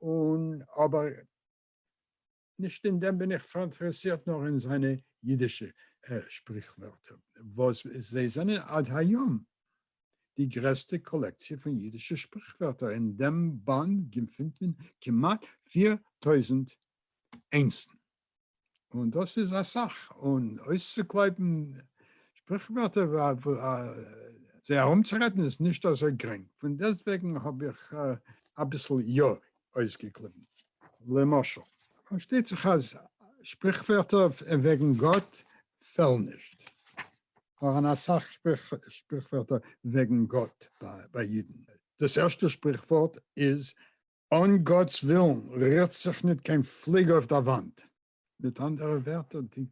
און אבער נישט אין דעם בין איך פאראינטערעסירט נאר אין זיינע אידישע שפריכווערטער וואס זיי זענען עד היום די גרעסטע קאלעקציע פון אידישע שפריכווערטער, אין דעם באנד געפינט מען כמעט פֿיר טויזנט איינסן און דאס איז אסאך, און אויסצוקלויבן שפריכווערטער זיי ארומצורעדן איז נישט אזוי גרינג, פון דעסטוועגן האב איך אביסל יא אויסגעקליבן. למשל. פארשטייט זיך אז שפריכווערטער וועגן גאט פעלן נישט. פארהאן אסאך שפריכווערטער וועגן גאט ביי אידן. דאס ערשטע שפריכווארט איז, אן גאט'ס ווילן רירט זיך ניט קיין פליג אויף דער וואנט. מיט אנדערע ווערטער, די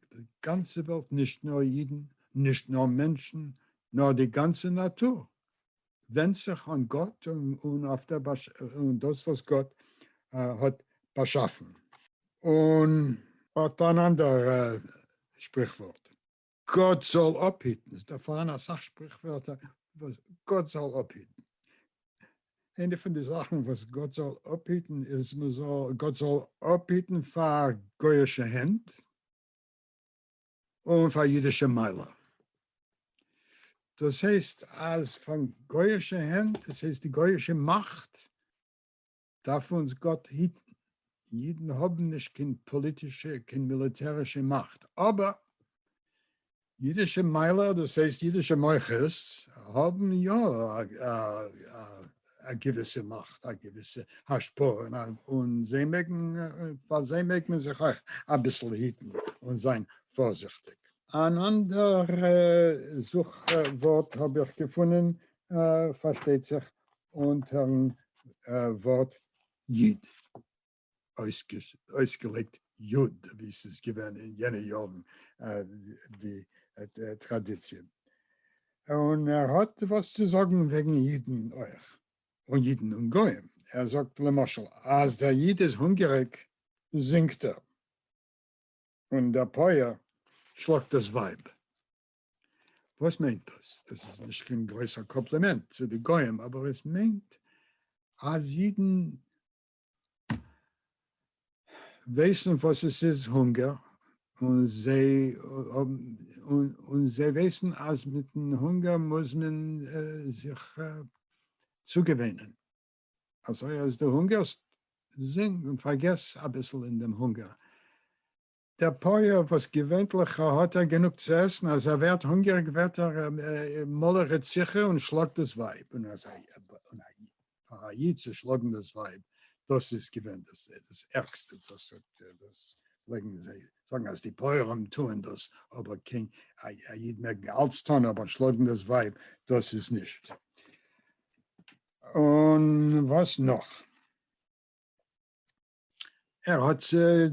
גאנצע וועלט, נישט נאר אידן, נישט נאר מענטשן, נאר די גאנצע נאטור, ווענדט זיך אן גאט און אויף דאס וואס גאט האט באשאפן. און האט אן אנדערע שפריכווארט. גאט זאל אפהיטן, ס'איז דא פארהאן אסאך שפריכווערטער וואס גאט זאל אפהיטן, איינע פון די זאכן וואס גאט זאל אפהיטן איז מען זאל, גאט זאל אפהיטן פאר גוי'אישע הענט און פאר אידישע מיילער, דאס הייסט אז פון גוי'אישע הענט, דאס הייסט די גוי'אישע מאכט, דארף אונז גאט היטן, אידן האבן נישט קיין פאליטישע קיין מיליטערישע מאכט, אבער אידישע מיילער דאס הייסט אידישע מוחות האבן יא א געוויסע מאכט א געוויסע השפעה און זיי מעגן פאר זיי מעג מען זיך אויך אביסל היטן און זיין פארזיכטיג. אן אנדערע זוך ווארט האב איך געפונען פארשטייט זיך אונטערן ווארט איד אויסגעלייגט יוד, ווי ס'איז געווען אין יענע יארן די טראדיציע, און ער האט וואס צו זאגן וועגן אידן אויך, און אידן און גוים, ער זאגט למשל אז דער איד איז הונגעריג זינגט ער, און דער פויער שלאגט דאס ווייב. וואס מיינט דאס? דאס איז נישט קיין גרויסע קאמפלימענט צו די גוים, אבער עס מיינט אז אידן ווייסן וואס עס איז הונגער, און זיי ווייסן אז מיטן הונגער מוז מען זיך צוגעוואוינען. אזוי אז דו הונגערסט, זינג און פארגעס אביסל אין דעם הונגער. דער פּויער, װאָס געװײנטלעך האָט ער גענוג צו עסן, אַז ער װערט הונגעריק, װערט ער מלא רציחה און שלאָגט דאָס װײַב. און אַז אַ ייִד, פֿאַר אַ ייִד צו שלאָגן דאָס װײַב, דאָס איז געװען דאָס ערגסטע, דאָס האָט, דאָס פֿלעגן זײ זאָגן, אַז די פּױערים טוען דאָס, אָבער קײן אַ ייִד מעג אַלץ טאָן, אָבער שלאָגן דאָס װײַב, דאָס איז נישט. און װאָס נאָך? ער האט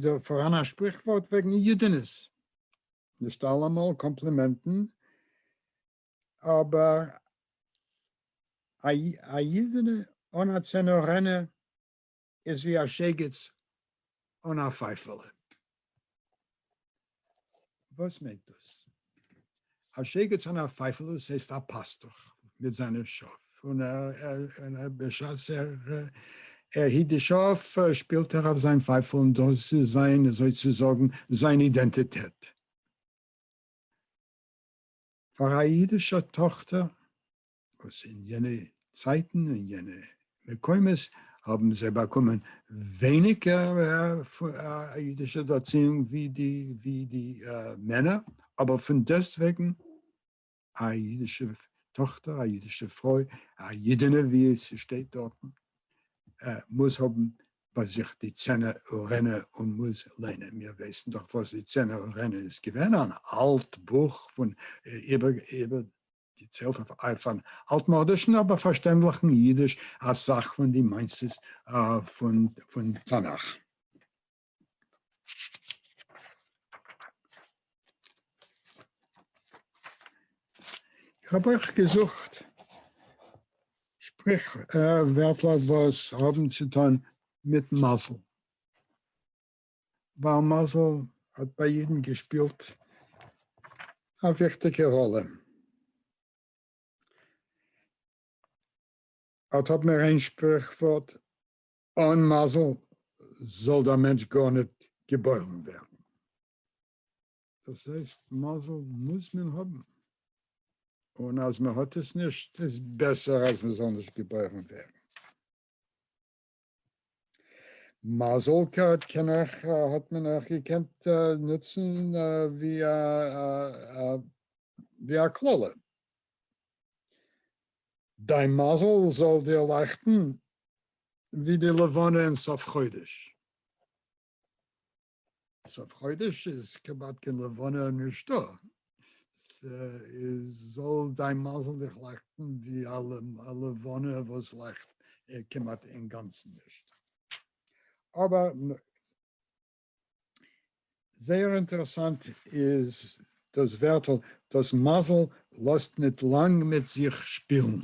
דא פאראן א שפריכווארט וועגן יודענעס, נישט אלעמאל קאמפלימענטן, אבער א יודענע אן א צענארענע איז ווי א שייגעץ אן א פייפעלע. וואס מיינט דאס? א שייגעץ אן א פייפל, דאס הייסט א פאסטוך מיט זיינע שאף, און בשעת ער היט די שאף שפילט ער אויף זיין פייפל, און דאס איז זיין, אזוי צו זאגן, זיין אידענטיטעט. פאר א אידישע טאכטער וואס אין יענע צייטן און יענע מקומות האבן זיי באקומען ווייניגער א אידישע ערציאונג ווי די מענער, אבער פון דעסט וועגן א אידישע טאכטער, א אידישע פרוי, א אידענע ווי עס שטייט דארטן, מוז האבן ביי זיך די צענע ארענע און מוז ליינען, מיר ווייסן דאך וואס די צענע ארענע איז געווען, אן אלט בוך פון איבער. געציילט אויף אויף אן אלטמאדישן אבער פארשטענדליכן אידיש א סך פון די מעשה'ס פון פון תנך. איך האב אויך געזוכט שפריך ווערטלעך וואס האבן צו טון מיט מזל. ווייל מזל האט ביי יעדן געשפילט א וויכטיגע ראלע. אט האבן מיר איין שפריכווארט, אן מזל זאל דער מענטש גארניט געבוירן ווערן. דאס הייסט, מזל מוז מען האבן, און אז מ'האט עס נישט איז בעסער אז מ'זאל נישט געבוירן ווערן. מזל קארד קען אויך האט מען אויך געקענט נוצן ווי א ווי א קללה. דיין מזל זאל דיר לייכטן ווי די לבנה אין סוף חודש. סוף חודש איז כמעט קיין לבנה נישטא, איז זאל דיין מזל דיך לייכטן ווי א לבנה וואס לייכט כמעט אינגאנצן נישט. אבער זייער אינטערעסאנט איז דאס ווערטל, דאס מזל לאזט ניט לאנג מיט זיך שפילן.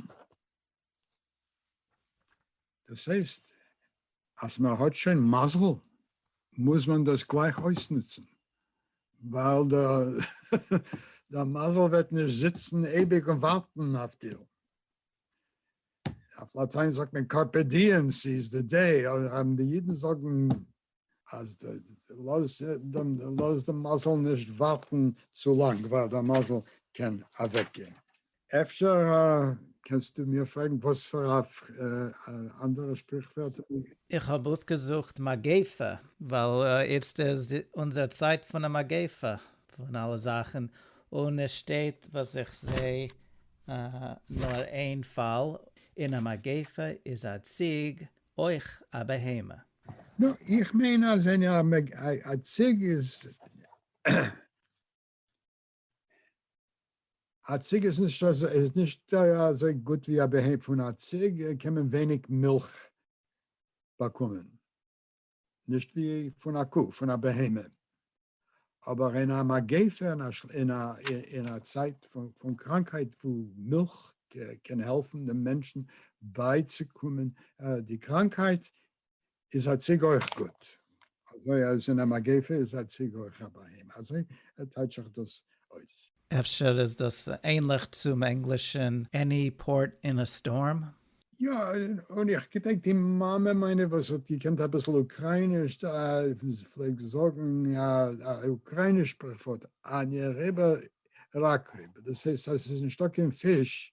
דאס הייסט אז מען האט שוין מזל מוז מען דאס גלייך אויסנוצן, ווייל דער מזל וועט נישט זיצן אייביג און ווארטן אויף דיר. אויף לאטיין זאגט מען קארפע דיעם, ס'איז די דעי, האבן די אידן זאגן אז לאז דעם לאז דעם מזל נישט ווארטן צו לאנג ווייל דער מזל קען אוועק גיין. אפשר קענסטו מיר פרעגן וואס פאר א אנדערע שפריכווערט? איך האב אויפגעזוכט מגיפה ווייל איצט איז אונזער צייט פון א מגיפה פון אלע זאכן און עס שטייט וואס איך זעה נאר איין פאל אין א מגיפה איז א ציג אויך א בהמה. נו, איך מיין אז אין א מג א ציג איז א ציג איז נישט אזוי איז נישט אזוי גוט ווי א בהמה, פון א ציג קען מען ווייניג מילך באקומען, נישט ווי פון א קו, פון א בהמה. אבער אין א מגיפה אין א צייט פון קראנקהייט וואו מילך קען העלפן דעם מענטשן בייצוקומען די קראנקהייט איז א ציג אויך גוט, אזוי אז אין א מגיפה איז א ציג אויך א בהמה, אזוי טייטש איך דאס אויס. אפשר איז דאס ענליך צום ענגלישן עני פארט אין א סטארם? יא, און איך געדענק די מאמע מיינע וואס האט געקענט אביסל אוקרייניש, זי פלעגט זאגן א אוקרייניש שפריכווארט, עני ריבער, ראק ריבער, דאס הייסט אז עס איז נישטא קיין פיש